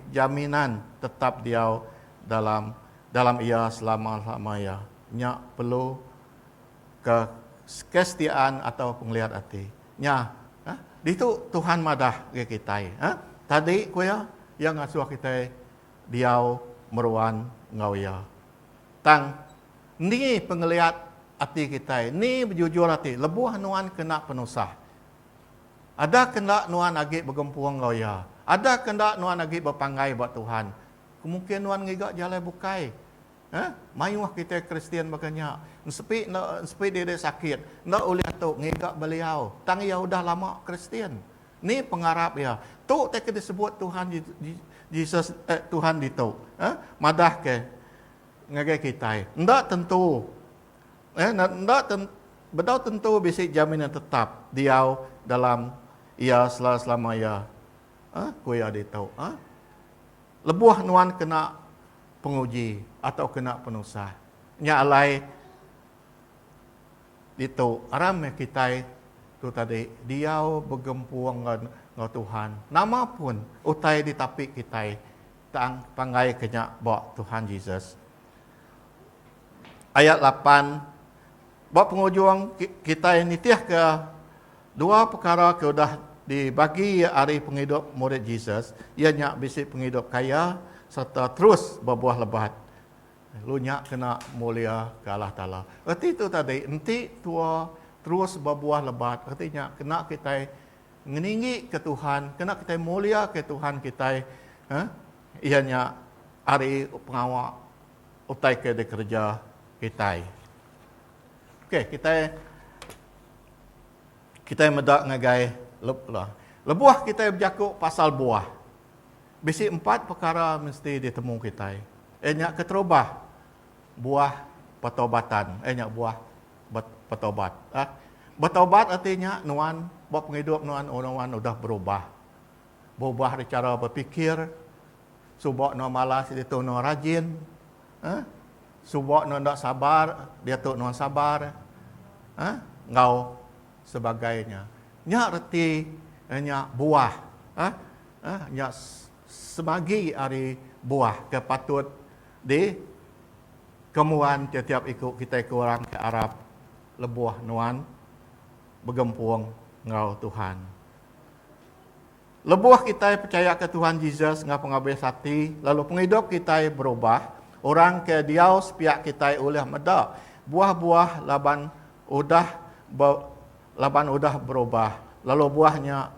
jaminan tetap diau dalam dalam Iya selama-lama iya. nya perlu ke kesetiaan atau pengeliat ati. Nya, eh, ditu Tuhan madah ngagai kitai. Eh, tadi ku iya, iya ngasuh kitai diau meruan enggau iya. Tang endi pengeliat ati kitai? Endi bejujur ati lebuh nuan ke enda penusah? Adakah enda nuan agi begempung enggau iya? Adakah enda nuan agi bepanggai ba Tuhan? Kemungkin nuan ngiga jalai bukai. Hah? Mayuh kitai Kristian baka nya. Ensepi enda ensepi diri sakit, enda ulih tu ngiga beliau. Tang iya udah lama Kristian. Ni pengarap iya? Tu ti ke disebut Tuhan Jesus eh, Tuhan ditu eh, madahka ngagai kitai. Enda tentu eh, enda ten, bedau tentu bisi jaminan tetap diau dalam iya selama-selama iya eh, ku iya ditu. Eh? Lebuh nuan kena penguji atau kena penusah. Nya alai ditu aram meh kitai tu tadi diau begempung enggau Tuhan. Nama pun utai ditapi kitai tang pangai ke nya ba Tuhan Jesus. Ayat lapan, Ba pengujung kitai nitihka Dua pekara ke udah dibagi iya ari pengidup murid Jesus iya nya bisi pengidup kaya sereta terus bebuah lebat. Lu nya kena muliaka Allah Taala. Reti tu tadi, enti tua, terus bebuah lebat, reti nya kena kitai ngeninggika Tuhan, kena kitai muliaka Tuhan kitai eh iya nya ari pengawa utai ke dikereja kitai. Okey, kita kita meda ngagai lah. Lebuh kita bejaku pasal buah. Bisi empat perkara mesti ditemu kita. Eh nya keterubah buah pertobatan. Eh nya buah pertobat. Ah. Bertobat artinya nuan ba pengidup nuan oh, nuan udah berubah. Berubah di cara berfikir. Suba nuan malas ditu nuan rajin. Huh? Suba nuan enda sabar, diatu nuan sabar. Huh? Enggau sebagai nya. Nya reti eh, nya buah. Huh? Huh? Nya semagi ari buah ke patut di kemuan tiap-tiap iku kitai ke orang ke arap lebuh nuan begempung enggau Tuhan. Lebuh kitai pechayaka Tuhan Jesus enggau pengabis ati lalu pengidup kitai berubah, orang ke diau sepiak kitai ulih meda buah-buah laban udah be laban udah berubah lalu buah nya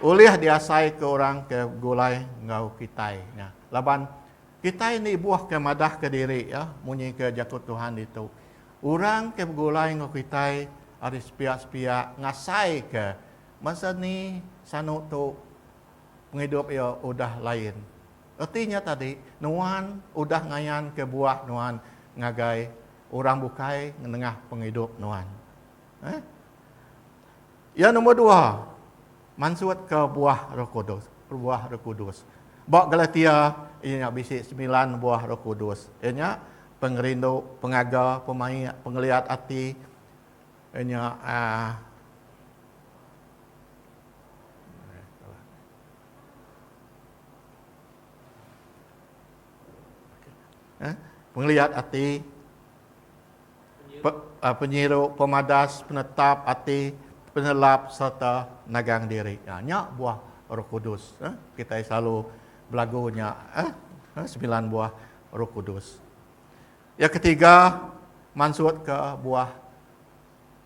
ulih diasaika orang ke begulai enggau kitai. Nya laban kitai indi buah ke madahka diri iya munyi ke Jaku Tuhan ditu, Orang ke begulai enggau kitai ari sepiak-sepiak ngasaika Masa ni sanu tu pengidup iya udah lain. Reti nya tadi, nuan udah ngayanka buah nuan ngagai orang bukai nengah pengidup nuan. Eh? Yang nombor dua, mansutka buah Roh Kudus. Buah Roh Kudus. Ba Galatia, iya nya bisi semilan buah Roh Kudus. Iya nya, pengerindu, pengaga, pemaik, pengeliat ati, Nya pengeliat ati, penyiru, pemadas, penetap ati, penelap sereta nagang diri. Nya buah Roh Kudus. Kitai selalu belagu nya semilan buah Roh Kudus. Iya ketiga, mansutka buah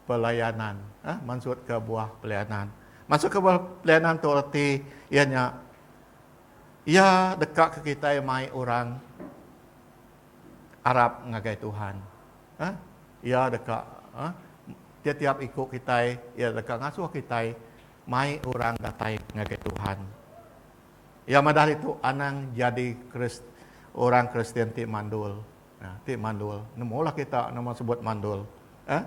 pelayanan. Mansutka buah pelayanan. Mansutka buah pelayanan tu reti iya nya iya dekaka kitai mai orang arap ngagai Tuhan. Iya deka tiap-tiap iku kitai iya deka ngasuh kitai mai orang datai ngagai Tuhan. Iya madah ditu anang jadi Kris orang Kristian ti mandul. Nah, ti mandul. Nemulah kita nama sebut mandul. Ha?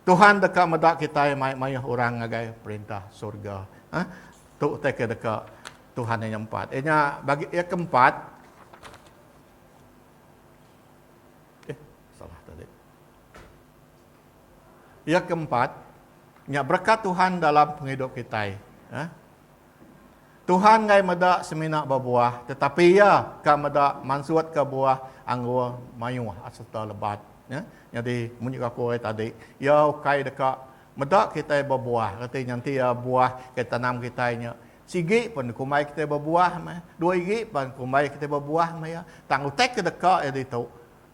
Tuhan deka meda kitai mai mayuh orang ngagai perintah surga. Ha? Tu utai ke deka Tuhan yang empat. Inya bagi yang keempat. Eh, salah tadi. Yang keempat, nya berkat Tuhan dalam penghidup kita. Ha? Tuhan enggai meda semina bebuah, tetapi Iya ka meda mansutka buah anggur mayuh sereta lebat. Ya, nyadi mun juga aku ari tadi, Iya ukai deka meda kitai bebuah, reti nya enti iya buah ke tanam kitai nya sigi pun dikumbai kitai bebuah meh, dua igi pan dikumbai kitai bebuah meh iya. Tang utai ke deka iya ditu,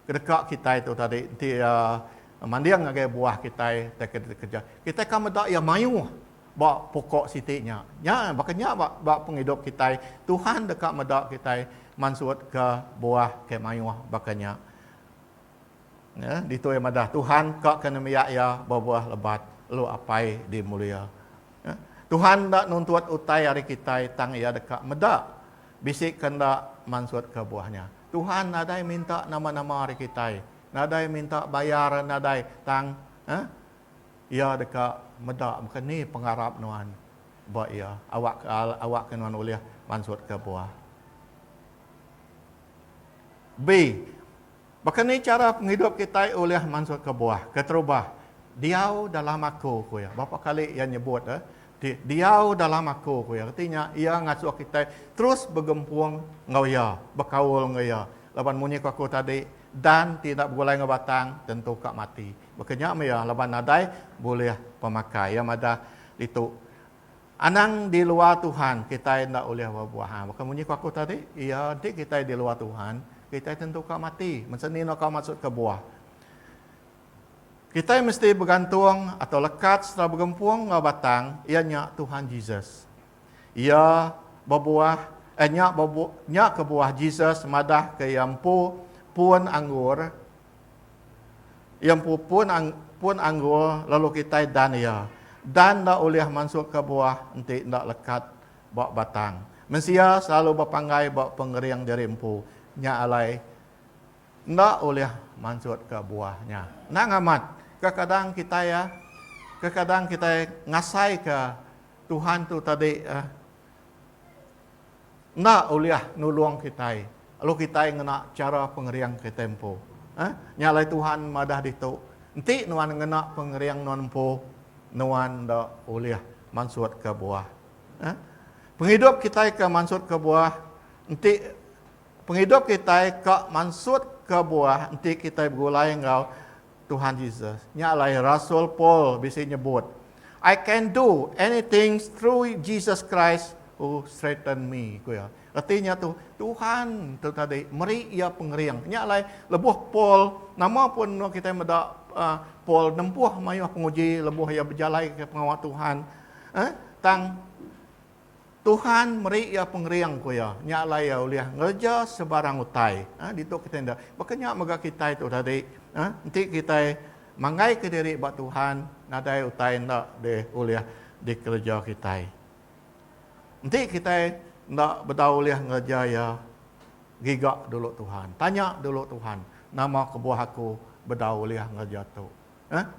ke deka kitai tu tadi enti iya manding ngagai buah kitai, utai ke dikeja, kitai ka meda iya mayuh. Ba pokok siti nya. Nya baka nya ba ba pengidup kitai. Tuhan deka meda kitai mansutka buah ke mayuh baka nya. Nya ditu iya madah Tuhan ka ke nembiak iya bebuah lebat lalu Apai dimulia. Nya Tuhan enda nuntut utai ari kitai tang iya deka meda bisi ke enda mansutka buah nya. Tuhan nadai minta nama-nama ari kitai. Nadai minta bayar nadai tang eh Iya deka meda baka ni pengarap nuan ba Iya, awakka awakka nuan ulih mansutka buah. B. Baka ni chara pengidup kitai ulih mansutka buah? Keterubah, Diau dalam Aku, ku Iya. Bapa kali Iya nyebut eh, ti, Diau dalam Aku, ku Iya. Reti nya, Iya ngasuh kitai terus begempung enggau Iya, bekaul enggau Iya. Laban munyi ku Aku tadi, Dan ti enda begulai enggau batang, tentu ka mati. Baka nya meh laban nadai bulih pemakai. Iya madah ditu, Anang di luar Tuhan, kitai enda ulih bebuah. Ha, baka munyi ku aku tadi, iya enti kitai di luar Tuhan, kitai tentu ka mati. Masa ni enda ka maksud ke buah. Kitai mesti begantung atau lekat sereta begempung enggau batang, iya nya Tuhan Jesus. Iya bebuah, eh nya bebuah, nya kebuah Jesus madah ke iya empu pun anggur. Iya empu pun pun anggur lalu kitai dan iya. Dan enda ulih mansuka buah enti enda lekat ba batang. Mensia selalu bepanggai ba pengering diri empu, nya alai enda ulih mansutka buah nya. Anang amat, kekadang kitai kekadang kitai ngasaika Tuhan tu tadi enda ulih nulung kitai lalu kitai ngena chara pengering kitai empu. Hah? Nya alai Tuhan madah ditu, Enti nuan ngena pengering nuan empu, nuan enda ulih mansutka buah. Hah? Pengidup kitai ke mansutka buah enti pengidup kitai ka mansutka buah enti kitai begulai enggau Tuhan Jesus. Nya alai rasul Paul bisi nyebut, I can do anything through Jesus Christ who strengthen me, ku iya. Reti nya tu, Tuhan tu tadi meri iya pengering. Nya alai lebuh Paul, nama pun menua kitai meda uh, Paul nempuh mayuh penguji lebuh iya bejalai ke pengawa Tuhan. Eh, tang Tuhan meri iya pengering, ku iya. Nya alai iya ulih ngereja sebarang utai. Ha, ditu kitai enda. Baka nya mega kitai tu tadi. Ha, enti kitai manggaika diri ba Tuhan, nadai utai enda deh ulih dikereja kitai. Enti kitai enda bedau ulih ngereja iya, giga dulu Tuhan. Tanya dulu Tuhan, Nama kebuah aku bedau ulih ngereja tu?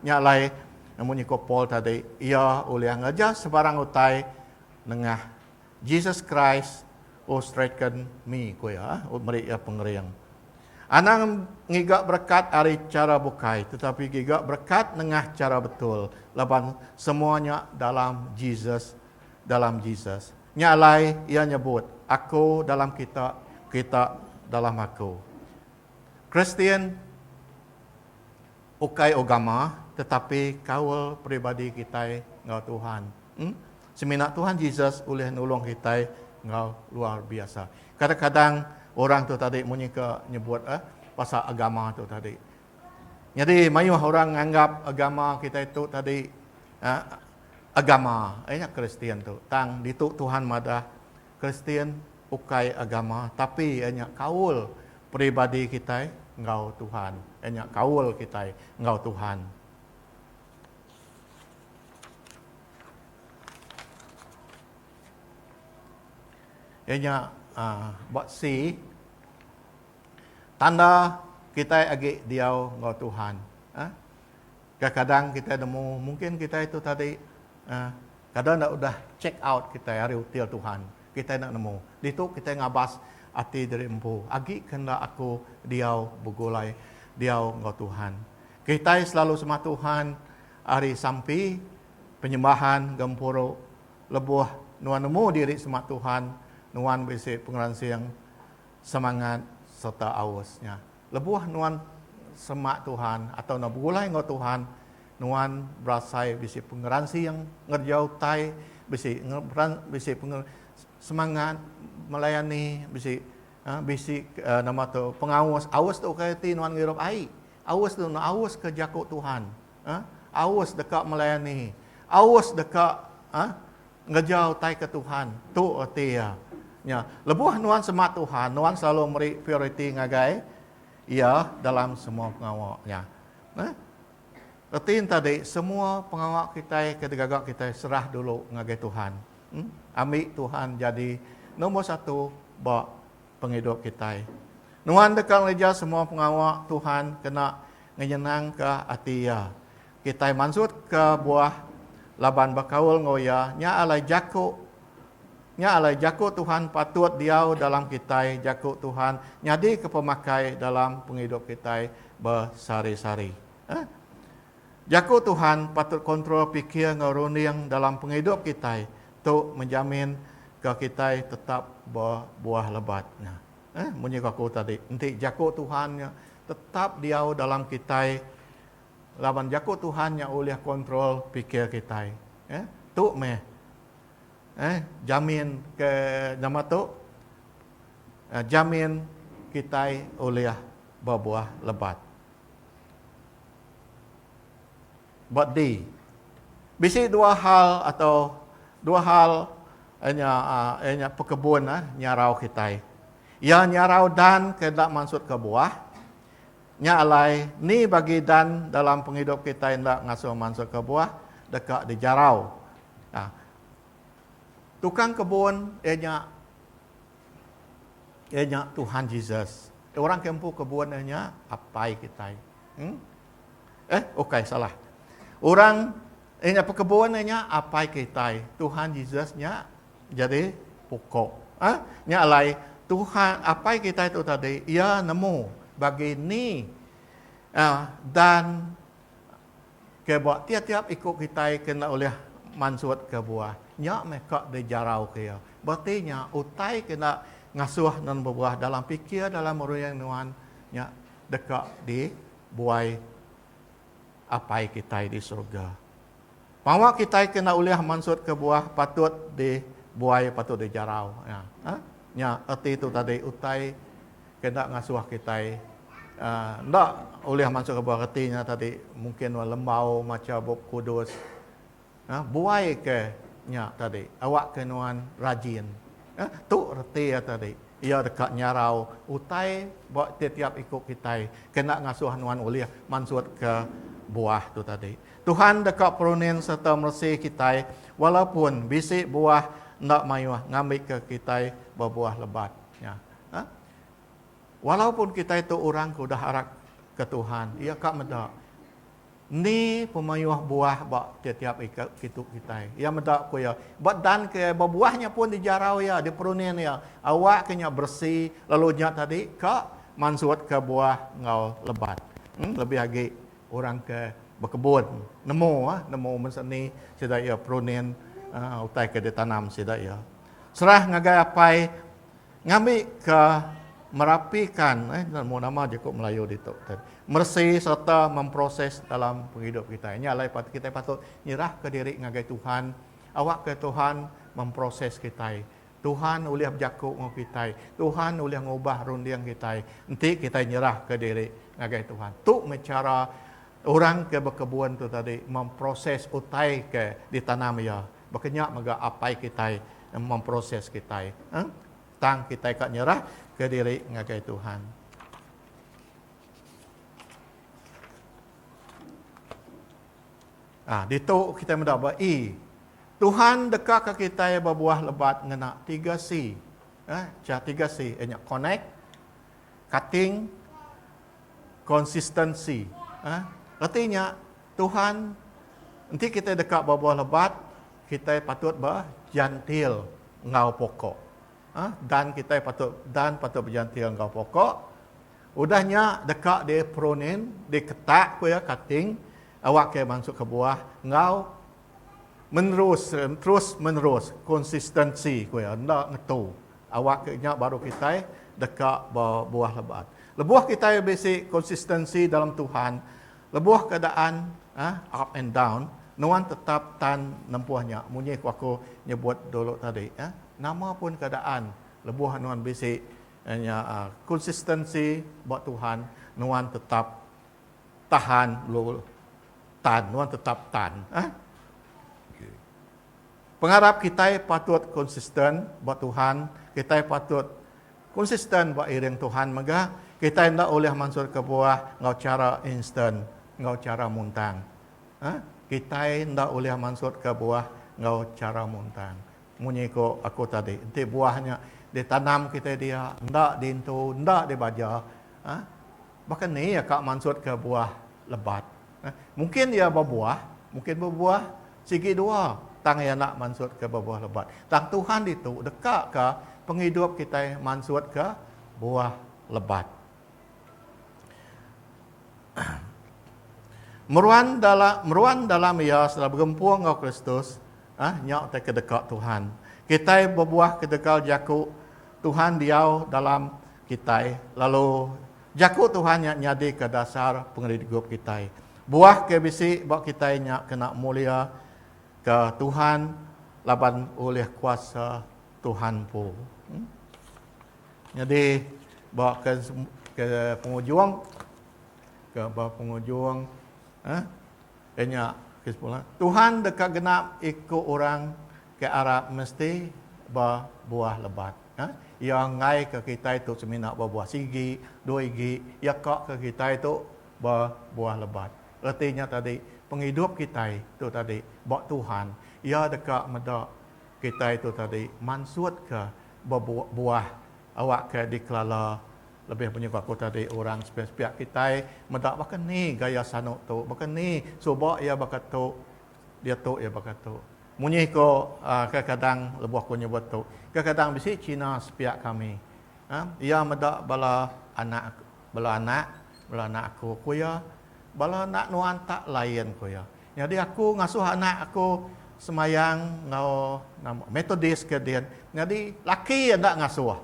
Nya alai, munyi ko Paul tadi, iya ulih ngereja sebarang utai nengah Jesus Christ who strengthen me, ko iya, meri iya pengering. Anang ngiga berekat ari chara bukai, tetapi giga berekat nengah chara betul, laban semua nya dalam Jesus, dalam Jesus. Nya alai, iya nyebut, Aku dalam kita, kita dalam aku. Kristian. Ukai ugama, tetapi kaul peribadi kitai enggau Tuhan. Em. Semina Tuhan Jesus ulih nulung kitai enggau luar biasa. Kadang-kadang orang tu tadi munyi ke nyebut eh pasal agama tu tadi. Nyadi mayuh orang nganggap agama kitai tu tadi eh agama iya nya Kristian tu. Tang ditu Tuhan madah. Kristian ukai agama tapi iya nya kaul peribadi kitai enggau Tuhan. Iya nya kaul kitai enggau Tuhan. Iya nya ba C tanda kitai agi diau enggau Tuhan. Kadang-kadang kitai nemu mungkin kitai tu tadi kada enda udah check out kitai ari hotel Tuhan. Kitai enda nemu. Ditu kitai ngabas ati diri empu, agi ke enda aku diau begulai diau enggau Tuhan. Kitai selalu sembah Tuhan ari sampi penyembahan gempuru. Lebuh nuan nemu diri sembah Tuhan, nuan bisi pengeransing semangat sereta aus nya. Lebuh nuan semak Tuhan atau nuan begulai enggau Tuhan, nuan berasai bisi pengeransing ngereja utai, bisi bisi semangat melayani, bisi bisi nama tu pengaus. Aus tu ukai reti nuan ngirup ai. Aus tu nuan aus ke jaku Tuhan. aus deka melayani, aus deka ngereja utai ke Tuhan. Tu reti iya. Nya, lebuh nuan semak Tuhan, nuan selalu meri prioriti ngagai Iya dalam semua pengawa nya. Nah, reti nya tadi, semua pengawa kitai ke digaga kitai serah dulu ngagai Tuhan. Ambi Tuhan jadi nombor satu ba pengidup kitai. Nuan deka ngereja semua pengawa Tuhan kena ngenyenangka ati Iya. Kitai mansutka buah laban bekaul enggau Iya, nya alai jaku nya alai jaku Tuhan patut diau dalam kitai, jaku Tuhan nyadika pemakai dalam pengidup kitai besehari-sehari. Eh? Jaku Tuhan patut kontrol pikir enggau runding dalam pengidup kitai. Tu menjamin ga kitai tetap bebuah lebat. Nah, munyi ga aku tadi, enti Jaku Tuhan nya tetap diau dalam kitai laban Jaku Tuhan nya ulih kontrol pikir kitai. Tu meh jamin ke nama tu jamin kitai ulih bebuah lebat. Ba di. Bisi dua hal atau dua hal iya nya iya nya pekebun nyarau kitai. Iya nyarau dan ke enda mansutka buah. Nya alai ni bagi dan dalam pengidup kitai enda ngasuh mansutka buah deka dijarau. Tukang kebun iya nya. Iya nya Tuhan Jesus. Orang ke empu kebun iya nya Apai kitai. Hmm? Eh, okey, salah. Orang iya nya pekebun iya nya Apai kitai. Tuhan Jesus nya jadi pokok. Ha? Nya alai Tuhan Apai kitai tu tadi, iya nemu bagi ni uh, dan Ke ba tiap-tiap iku kitai ke enda ulih mansut ke buah nya meh ka dijarau ke iya. Bereti nya utai ke enda ngasuh nuan bebuah dalam pikir dalam meruyung nuan nya deka di buai Apai kitai di surga. Pengawa kitai ke enda ulih mansut ke buah patut di buai patut dijarau. Nya erti tu tadi utai. Kena ngasuh kitai enda ulih mansuh ke buah reti nya tadi mungkin wang lembau macha Bup Kudus. Buai ke nya tadi awak ke nuan rajin. Tu reti iya tadi. Iya deka nyarau utai ba tiap-tiap iku kitai kena ngasuh nuan ulih mansut ke buah tu tadi. Tuhan deka perunin serta meresi kitai walaupun bisi buah enda mayuh ngambika kitai bebuah lebat. Nya. Ha? Walaupun kitai tu orang ke udah arap ke Tuhan, iya ka meda ni pemayuh buah ba tiap-tiap kitu kitai. Iya meda ku iya, ba dan ke iya, ba buah nya pun dijarau iya, diperunin iya, awak ke nya beresi lalu nya tadi ka mansut ke buah enggau lebat. Hmm, lebih agi orang ke bekebun nemu ah, nemu mesti ni sida iya perunin uh, utai ke ditanam sida iya. Serah ngagai apai ngambika merapikan eh mu nama jeku Melayu ditu meresi sereta memproses dalam pengidup kitai. Nya alai patut kitai patut nyerahka diri ngagai Tuhan awakka Tuhan memproses kitai. Tuhan ulih bejaku enggau kitai. Tuhan ulih ngubah runding kitai enti kitai nyerahka diri ngagai Tuhan. Tu meh chara orang ke bekebun tu tadi memproses utai ke ditanam iya. Baka nya mega Apai kitai memproses kitai tang kitai ka nyerahka diri ngagai Tuhan. Ah, ditu kitai meda ba E. Tuhan dekaka kitai bebuah lebat ngena tiga C. Eh, cha tiga C ianya connect, cutting, Konsistensi. Reti nya, Tuhan enti kitai deka bebauh lebat, kitai patut bejantil enggau pokok. Dan kitai patut dan patut bejantil enggau pokok. Udah nya deka diprunin, diketak ku iya, cutting, awakka iya mansutka buah enggau. Menerus, terus menerus, konsistensi ku iya, enda ngetu. Awak ke nya baru kitai deka bebuah lebat. Lebuh kitai bisi konsistensi dalam Tuhan, lebuh keadaan up and down, nuan tetap tan nempuh nya. Munyi ku aku nyebut dulu tadi, nama pun keadaan lebuh nuan bisi konsistensi ba Tuhan, nuan tetap. Tahan lu tan nuan tetap tan eh. Pengarap kitai patut konsisten ba Tuhan, kitai patut konsisten ba iring Tuhan mega kitai enda ulih mansut kebuah enggau chara instan, enggau chara muntang. Eh kitai enda ulih mansut kebuah enggau chara muntang. Munyi ku aku tadi enti buah nya ditanam kitai dia enda diintu enda dibaja eh Baka ni iya ka mansutka buah lebat? Mungkin iya bebuah, mungkin bebuah sigi dua tang iya enda mansutka bebuah lebat. Tang Tuhan ditu dekaka pengidup kitai mansutka buah lebat. Meruan meruan dalam iya sereta begempung enggau Kristus, nya utai ke deka Tuhan. Kitai bebuah ketegal jaku Tuhan diau dalam kitai, lalu Jaku Tuhan nya nyadika dasar pengeridup kitai. Buah ke bisi ba kitai nya kena muliaka Tuhan laban ulih kuasa Tuhan empu. Hmm. Nyadi ba ke ke pengujung ke ba pengujung eh ke nya kesimpulan Tuhan deka genap iku orang ke arap mesti ba buah lebat. Iya ngaika kitai tu semina bebuah sigi, dua igi, iya kaka kitai tu bebuah lebat. Reti nya tadi, pengidup kitai tu tadi ba Tuhan, iya deka meda kitai tu tadi mansutka bebuah awakka dikelala lebih banyak ba aku tadi orang sepiak-sepiak kitai meda baka ni gaya sanu tu, baka ni suba iya baka tu, Diatu iya baka tu. Munyi iko kadang-kadang lebuh aku nyebut tu, kadang-kadang bisi China sepiak kami. Iya meda bala anak bala anak bala anak aku ku iya bala anak nuan tak lain ku iya. Nyadi aku ngasuh anak aku semayang enggau nama Methodist ke din nyadi laki iya enda ngasuh.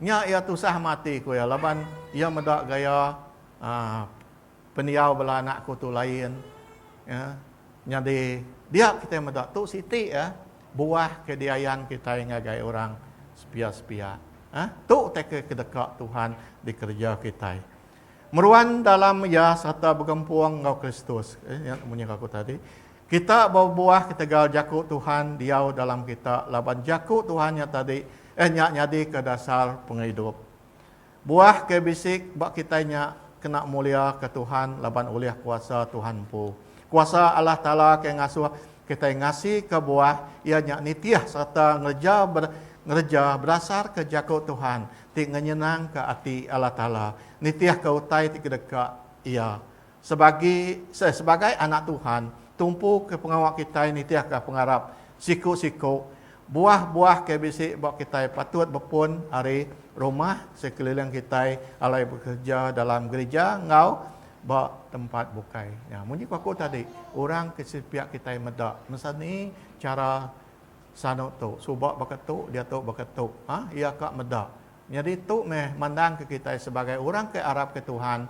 Nya iya tusah ama ati ku iya laban iya meda gaya aaa Pendiau bela anak aku tu lain ya. Nyadi dia kitai meda tu siti ya buah ke diayan kitai ngagai orang sepia-sepia. Ha tu utai ke kedeka Tuhan dikereja kitai. Meruan dalam iya sereta begempung enggau Kristus. Eh nya munyi ke aku tadi. Kita bebuah ketegal jaku Tuhan diau dalam kita laban jaku Tuhan nya tadi eh nya nyadika dasar pengidup. Buah ke bisi ba kitai nya kena muliaka Tuhan laban ulih kuasa Tuhan empu. Kuasa Allah Taala ke ngasuh kitai ngasika buah iya nya nitih sereta ngereja ngereja bedasarka jaku Tuhan ti ngenyenangka ati Allah Taala, nitihka utai ti kedeka Iya. Sebagi eh, sebagai anak Tuhan, tumpu ke pengawa kitai nitihka pengarap siku-siku buah-buah ke bisi ba kitai patut bepun ari rumah sekeliling kitai alai bekereja dalam gerija enggau ba tempat bukai. Nya, munyi ku aku tadi, orang ke sepiak kitai meda mesani chara sanu tu, suba baka tu, diatu baka tu. Ha, iya ka meda Nyadi tu meh mandangka kitai sebagai orang ke arapka Tuhan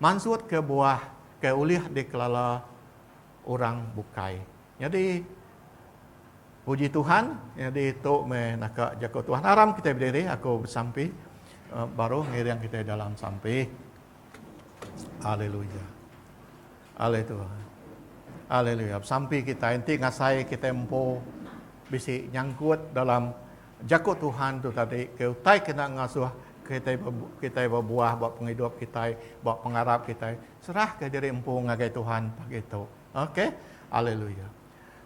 mansutka buah ke ulih dikelala orang bukai. Nyadi puji Tuhan, nyadi tu meh naka jaku Tuhan. Aram kitai bediri, aku besampi baru ngiring kitai dalam sampi. Haleluya. Haleluya. Haleluya. Besampi kitai enti ngasai kitai empu bisi nyangkut dalam Jaku Tuhan tu tadi ke utai kena ngasuh kitai kitai bebuah ba pengidup kitai, ba pengarap kitai. Serahka diri empu ngagai Tuhan pagi tu. Okey. Haleluya.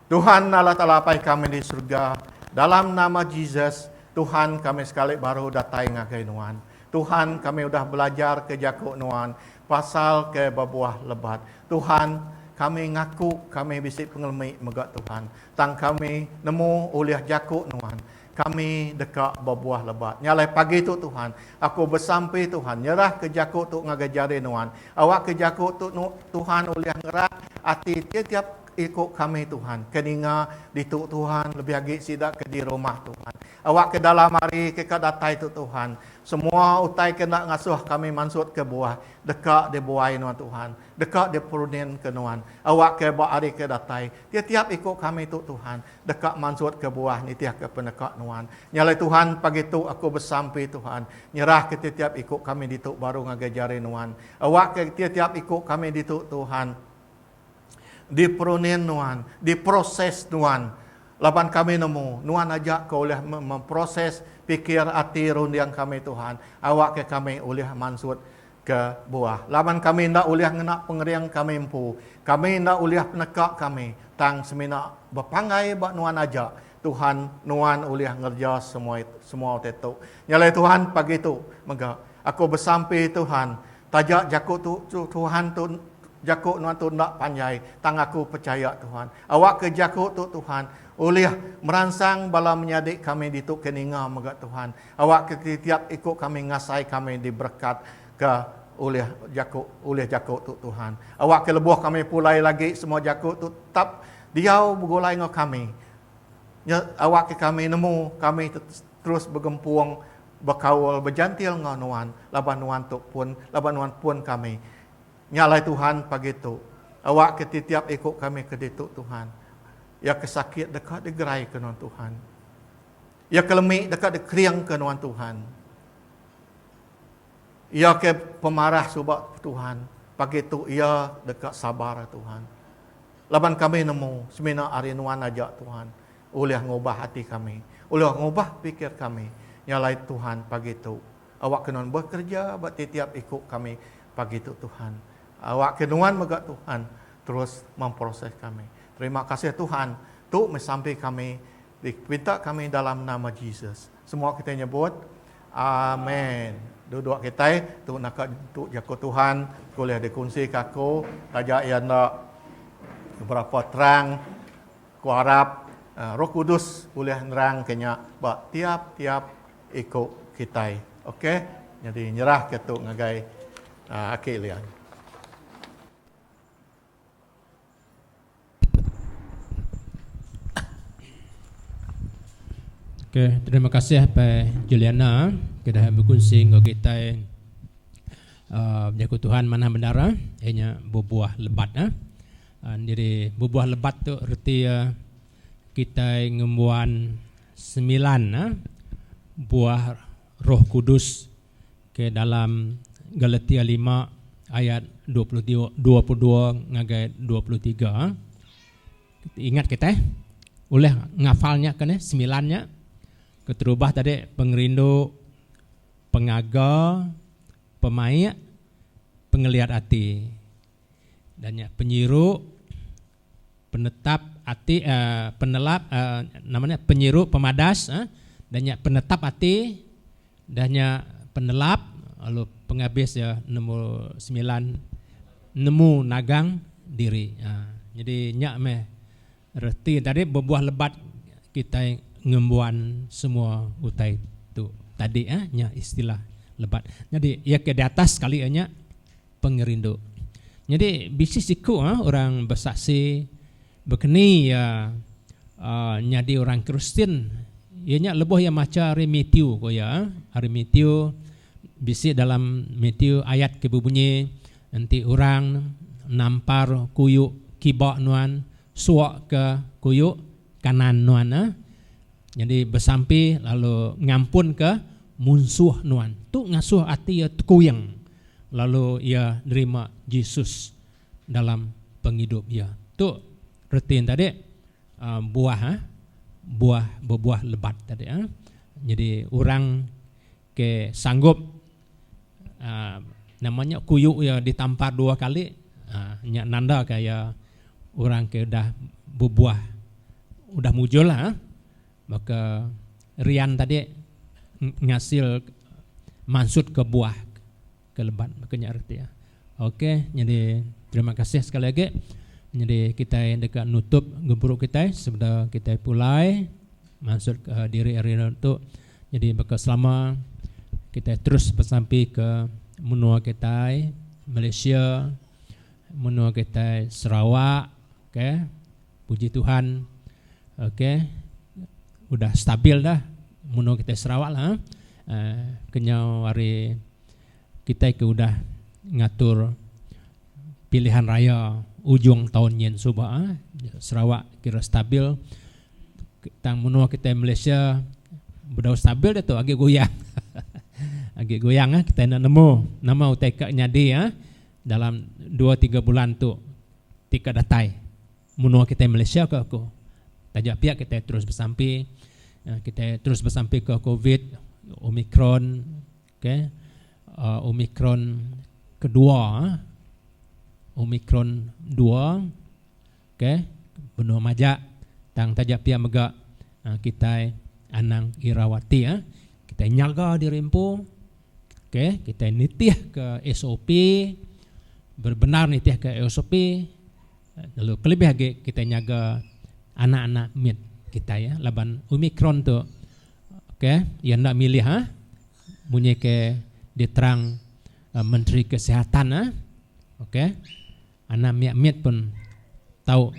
Tuhan Allah Taala Apai kami di serega, dalam nama Jesus, Tuhan kami sekali baru datai ngagai Nuan. Tuhan kami udah belajar ke jaku Nuan, Pasal ke bebuah lebat. Tuhan, kami ngaku kami bisi pengelemi mega Tuhan. Tang kami nemu ulih jaku Nuan, kami deka bebuah lebat. Nya alai pagi tu Tuhan, aku besampi Tuhan, nyerah ke jaku tu ngagai jari Nuan. Awak ke jaku tu Tuhan ulih ngerat ati tiap-tiap iku kami Tuhan ke ninga ditu Tuhan lebih agi sida ke di rumah Tuhan. Awak ke dalam hari ke ka datai tu Tuhan, semua utai ke enda ngasuh kami mansut ke buah, deka di buai nuan Tuhan, deka di perunin ke nuan, awak ke ba hari ke datai, ti tiap iku kami tu Tuhan, deka mansut ke buah nitih ke peneka nuan. Nya alai Tuhan, pagi tu aku besampi Tuhan, nyerah ke ti tiap iku kami ditu baru ngagai jari nuan, awak ke ti tiap iku kami ditu Tuhan, Diperunin nuan, diproses nuan. Laban kami nemu, nuan aja ke ulih memproses pikir ati runding kami Tuhan, awakka kami ulih mansut ke buah. Laban kami enda ulih ngena pengering kami empu, kami enda ulih peneka kami, tang semina bepanggai ba nuan aja Tuhan nuan ulih ngereja semua utai tu. Nyalai Tuhan pagi tu mega. Aku besampi Tuhan, taja jaku tu Tuhan tu jaku nuan tu enda panjai, tang aku pechaya Tuhan. Awakka jaku tu Tuhan ulih meransang bala menyadi kami ditu ke ninga mega Tuhan. Awakka titiap iku kami ngasai kami diberekatka ulih jaku ulih jaku tu Tuhan. Awakka lebuh kami pulai lagi semua jaku tu tetap diau begulai enggau kami. Nya awakka kami nemu kami terus begempung bekaul bejantil enggau nuan laban nuan tu pun laban nuan pun kami. Nya alai Tuhan pagi tu. Awak ke titiap iku kami ke ditu Tuhan. Iya ke sakit deka digeraika nuan Tuhan. Iya ke lemi deka dikeringka nuan Tuhan. Iya ke pemarah suba Tuhan pagi tu iya deka sabar Tuhan. Laban kami nemu semina ari nuan aja Tuhan. Ulih ngubah ati kami. Ulih ngubah pikir kami. Nya alai Tuhan pagi tu. Awakka nuan bekerja ba titiap iku kami pagi tu Tuhan. Awakka nuan mega Tuhan terus memproses kami. Terima kasih Tuhan. Tu meh sampi kami dipinta kami dalam nama Jesus. Semua kitai nyebut. Amen. Duduk kitai. Tu naka tu jaku Tuhan ke ulih dikunsika aku taja iya enda berapa terang. Aku arap Roh Kudus ulih nerangka nya ba tiap-tiap iku kitai. Ok, nyadi nyerahka tu ngagai Aki Lian. Ok, terima kasih ba Juliana ke dah bekunsi enggau kitai uhh jaku Tuhan manah bendar uhh iya nya bebuah lebat uhh. Nyadi bebuah lebat tu reti iya kitai ngembuan semilan buah Roh Kudus ke dalam Galatia lima ayat dua puluh dua puluh dua ngagai dua puluh tiga. Ingat kitai ulih ngafal nya ke nih semilan nya. Keterubah tadi pengerindu, pengaga, pemaik, pengeliat ati. Dan nya penyiru penetap ati penelap nama nya penyiru pemadas dan nya penetap ati dan nya penelap lalu pengabis iya nombor semilan nemu nagang diri nyadi nya meh reti tadi bebuah lebat kitai ngembuan semua utai tu tadi nya istilah lebat nyadi iya ke diatas sekali nya. pengerindu. Nyadi bisi siku orang besaksi bekeni iya nyadi orang Kristian iya nya lebuh iya macha ari Matthew ku iya ari Matthew bisi dalam Matthew ayat ke bebunyi enti orang nampar kuyu kiba nuan suak ke kuyu kanan nuan nyadi besampi lalu ngampunka munsuh nuan. Tu ngasuh ati iya tekuing. lalu iya nerima Jesus dalam pengidup iya. Tu reti nya tadi buah buah bebuah lebat tadi. Nyadi orang ke sanggup nama nya kuyu iya ditampar dua kali nya nanda ka iya orang ke udah bebuah udah mujur lah. Baka rian tadi ngasil mansut ke buah ke lebat baka nya reti. Ok nyadi terima kasih sekali agi nyadi kitai enda ka nutup gempuru kitai sebeda kitai pulai mansut ke diri ari anu tu nyadi baka selama kitai terus besampi ke menua kitai Malaysia menua kitai Sarawak. Ok puji Tuhan ok udah stabil dah menua kitai Sarawak lah eh kenyau hari kitai ke udah ngatur pilihan raya ujung taun nyin suba Sarawak kira stabil tang menua kitai Malaysia bedau stabil diatu agi goyang agi goyang kitai enda nemu nama utai ka nyadi. Dalam dua tiga bulan tu ti ka datai menua kitai Malaysia ke aku. Taja pia kitai terus besampi kitai terus besampi ke covid omicron ke omicron kedua omicron dua. ok benung majak tang taja pia mega kitai anang irau ati ah kitai nyaga diri empu ok kitai nitih ka sop bebendar nitih ka sop lalu kelebih agi kitai nyaga anak anak mit kitai ah laban omicron tu ok iya enda milih ah munyi ke diterang menteri kesihatan ah ok Anang mia mit pun tau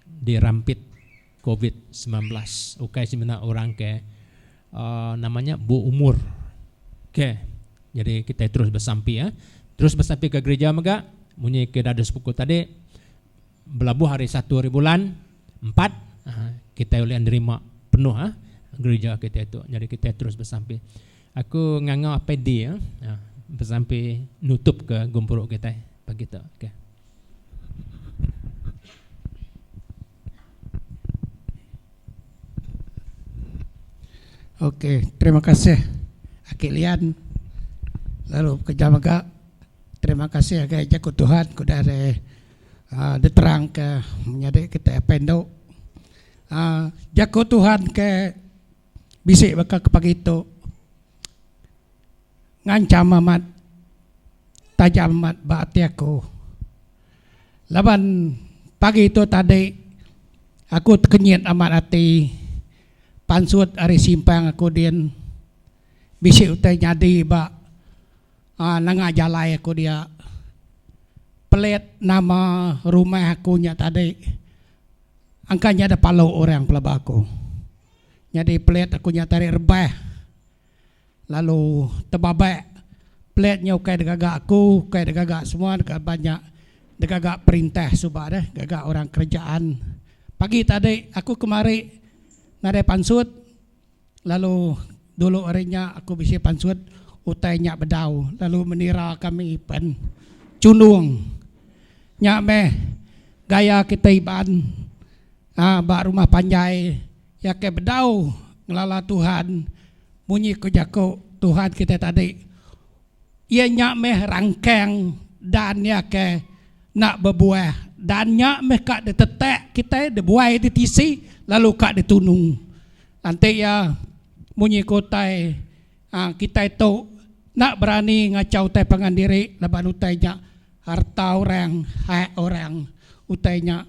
dirampit covid semilan belas ukai semina orang ke nama nya beumur ke jadi kitai terus besampi ya terus besampi ke gerija mega munyi ke dadu sepuku tadi belabuh hari satu hari bulan empat kitai ulih nerima penuh gerija kitai tu jadi kitai terus besampi. Aku nganga apai dia besampi nutup ke gempuru kitai pagi tu. Okay. Okay, terima kasih Aki Lian lalu bekerja mega. Terima kasih agak Jaku Tuhan ku dah re, uh, diterang ke menyadi kita pendu. Uh, ah, Jaku Tuhan ke bisi baka ke pagi tu ngancam amat tajam amat ba ati aku laban pagi tu tadi aku tekenyit amat ati pansut ari simpang aku din bisi utai nyadi ba um nanga jalai aku dia pelit nama rumah aku nya tadi angka nya deh palu orang pelaba aku. Nyadi pelet aku nya tarik rebah lalu tebabak pelet nya ukai degaga aku ukai degaga semua laban nya degaga perintah suba deh gaga orang kerajaan pagi tadi aku kemari nadai pansut lalu dulu hari nya aku bisi pansut utai nya bedau lalu menira kami pen chundung nya meh gaya kita Iban. Nya ba rumah panjai iya ke bedau ngelala Tuhan munyi ku jaku Tuhan kitai tadi iya nya meh rangkang dan iya ke enda bebuah dan nya meh ka ditetak kitai dibuai ditisi lalu ka ditunu enti iya munyi ku utai kitai tu enda berani ngachau utai pangan diri laban utai nya harta orang hak orang utai nya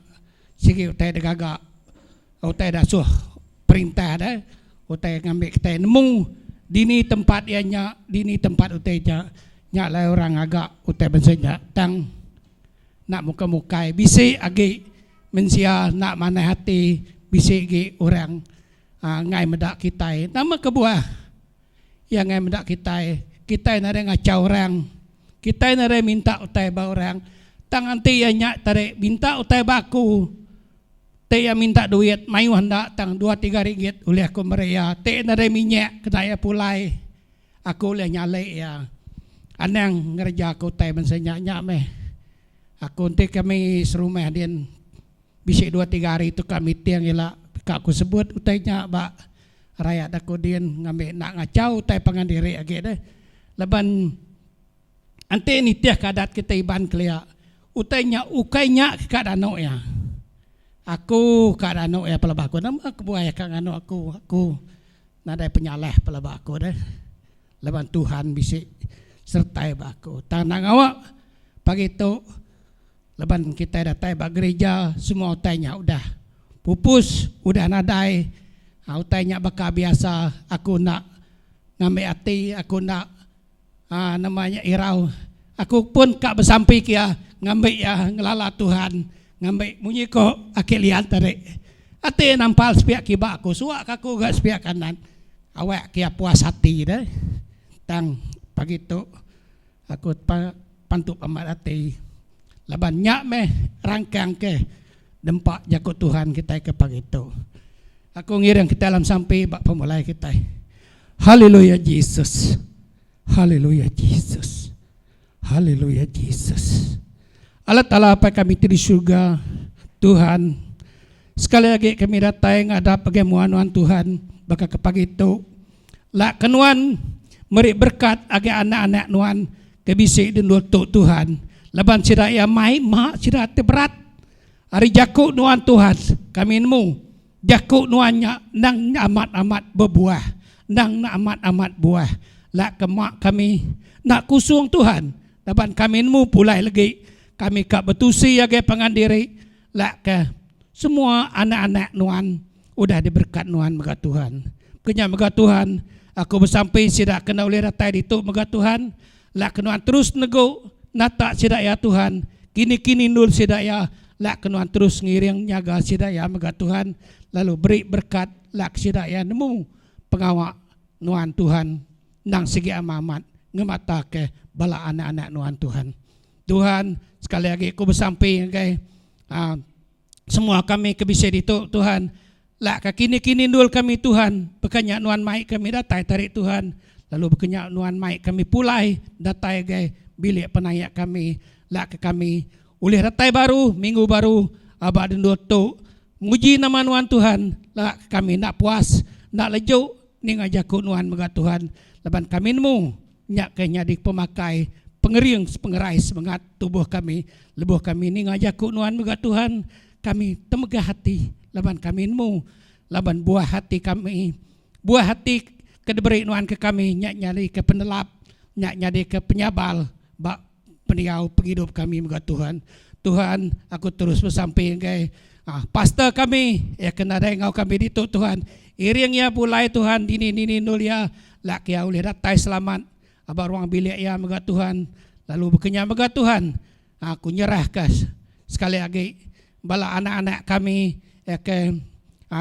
Sigi utai da gaga utai da asuh perintah da utai ngambi kitai nemu dini tempat iya nya dini tempat utai nya. Nya alai orang ngaga utai bansa nya tang enda muka mukai bisi agi mensia enda manah ati bisi agi orang ngai meda kitai nama kebuah. Iya ngai meda kitai. Kitai nadai ngachau orang. Kitai nadai minta utai ba orang. Tang enti iya nya tadi minta utai ba aku, ti iya minta duit mayuh enda tang dua tiga ringgit ulih aku meri iya. Ti iya nadai minyak kena iya pulai, aku ulih nyalik iya. Anang ngereja aku utai bansa nya. Nya meh aku enti kami serumah din. Bisi dua tiga hari tu ka meeting ila ka ku sebut utai nya ba rayat aku din ngambi enda ngachau utai pangan diri agi deh laban enti nitih ka adat kita Iban kelia utai nya ukai nya ke ka danu iya aku ka danu iya pelaba aku nama kebuai ka nganu aku aku nadai penyalah pelaba aku deh laban Tuhan bisi sertai ba aku tang enda ngawa pagi tu. Laban kitai datai ba gerija semua utai nya udah pupus udah nadai aaa utai nya baka biasa aku enda ngambi ati aku enda aaa nama nya irau aku pun ka besampi ke iya ngambi iya ngelala Tuhan ngambi munyi ko Aki Lian tadi ati iya nampal sepiak kiba aku suak ka aku ga sepiak kanan awak ke iya puas ati deh tang pagi tu. Aku pa pantu pambat ati laban nya meh rangkang ke dempa jaku Tuhan kitai ke pagi tu. Aku ngiring kitai alam sampi ba pemulai kitai. Haleluya Jesus. Haleluya Jesus. Haleluya Jesus. Allah Taala Apai kami ti di surga, Tuhan. Sekali agi kami datai ngadap agi mua nuan Tuhan baka ke pagi tu. Laka nuan meri berkat agi anak-anak nuan ke bisi di endur tu Tuhan laban sida iya mai ma sida ti berat. Ari jaku nuan Tuhan kami nemu jaku nuan nya endang amat-amat bebuah endang enda amat-amat buah. Laka ma kami enda kusung Tuhan laban kami nemu pulai lagi kami ka betusi agi pangan diri. Laka, semua anak-anak nuan udah diberekat nuan mega Tuhan. Kenya mega Tuhan, aku besampi sida kena ulih datai ditu mega Tuhan. Laka nuan terus negu nata sida iya Tuhan, kini-kini endul sida iya, laka nuan terus ngiring nyaga sida iya mega Tuhan, lalu beri berekat laka sida iya nemu pengawa nuan Tuhan endang sigi ama amat ngemataka bala anak-anak nuan Tuhan. Tuhan, sekali agi aku besampi ngagai um, semua kami ke bisi ditu, Tuhan. Lak ka kini-kini ndul kami, Tuhan. Bekanya nuan mai kami datai tarik Tuhan. Lalu bekanya nuan mai kami pulai datai gai bilik penayak kami. Lak ka kami ulih datai baru, minggu baru, aba dendul tu. Muji nama nuan, Tuhan. Lak ka kami enda puas, enda leju ninga jaku nuan mega, Tuhan. Laban kami nemu. Nya ke nyadi pemakai pengering sepengerai semengat tubuh kami. Lebuh kami ninga jaku nuan mega Tuhan, kami temegah ati laban kami nemu laban buah ati kami. Buah ati ke diberi nuan ke kami nya nyadika penelap, nya nyadika penyabal ba Pendiau pengidup kami mega Tuhan. Tuhan aku terus besampi enggai pastor kami iya ke nadai enggau kami ditu Tuhan iring iya pulai Tuhan dini dini endul iya lak iya ulih datai selamat ba ruang bilik iya mega Tuhan lalu bekenyah mega Tuhan aku nyerah ka sekali agi bala anak anak kami iya ke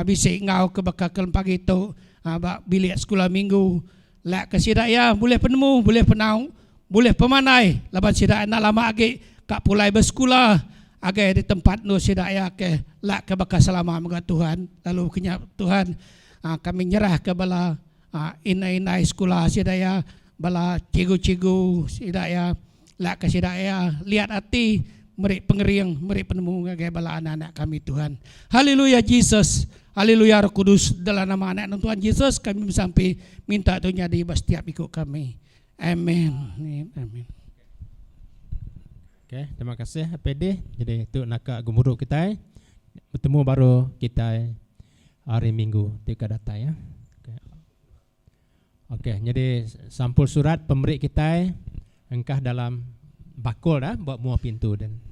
bisi enggau ke baka ke pagi tu ba bilik sekula minggu Lak ke sida iya bulih penemu, bulih penau, bulih pemandai laban sida enda lama agi ka pulai besekula agei di tempat endur sida iya ke lak ke baka selama mega Tuhan lalu kenya Tuhan kami nyerahka bala indai-indai sekula sida iya bala cikgu-cikgu sida iya. Lak ka sida ea liat ati meri pengering meri penemu ngagai bala anak-anak kami Tuhan. Haleluya Jesus. Haleluya Roh Kudus dalam nama anak Enun Tuhan Jesus kami besampi minta tu nyadi ba setiap iku kami. Amen. Amen. Okay, terima kasih PD. Jadi tu naka gemuruh kita bertemu baru kita hari Minggu tiga datai ya. Okey, nyadi sampul surat pemeri kitai engkah dalam bakul dah ba mua pintu den.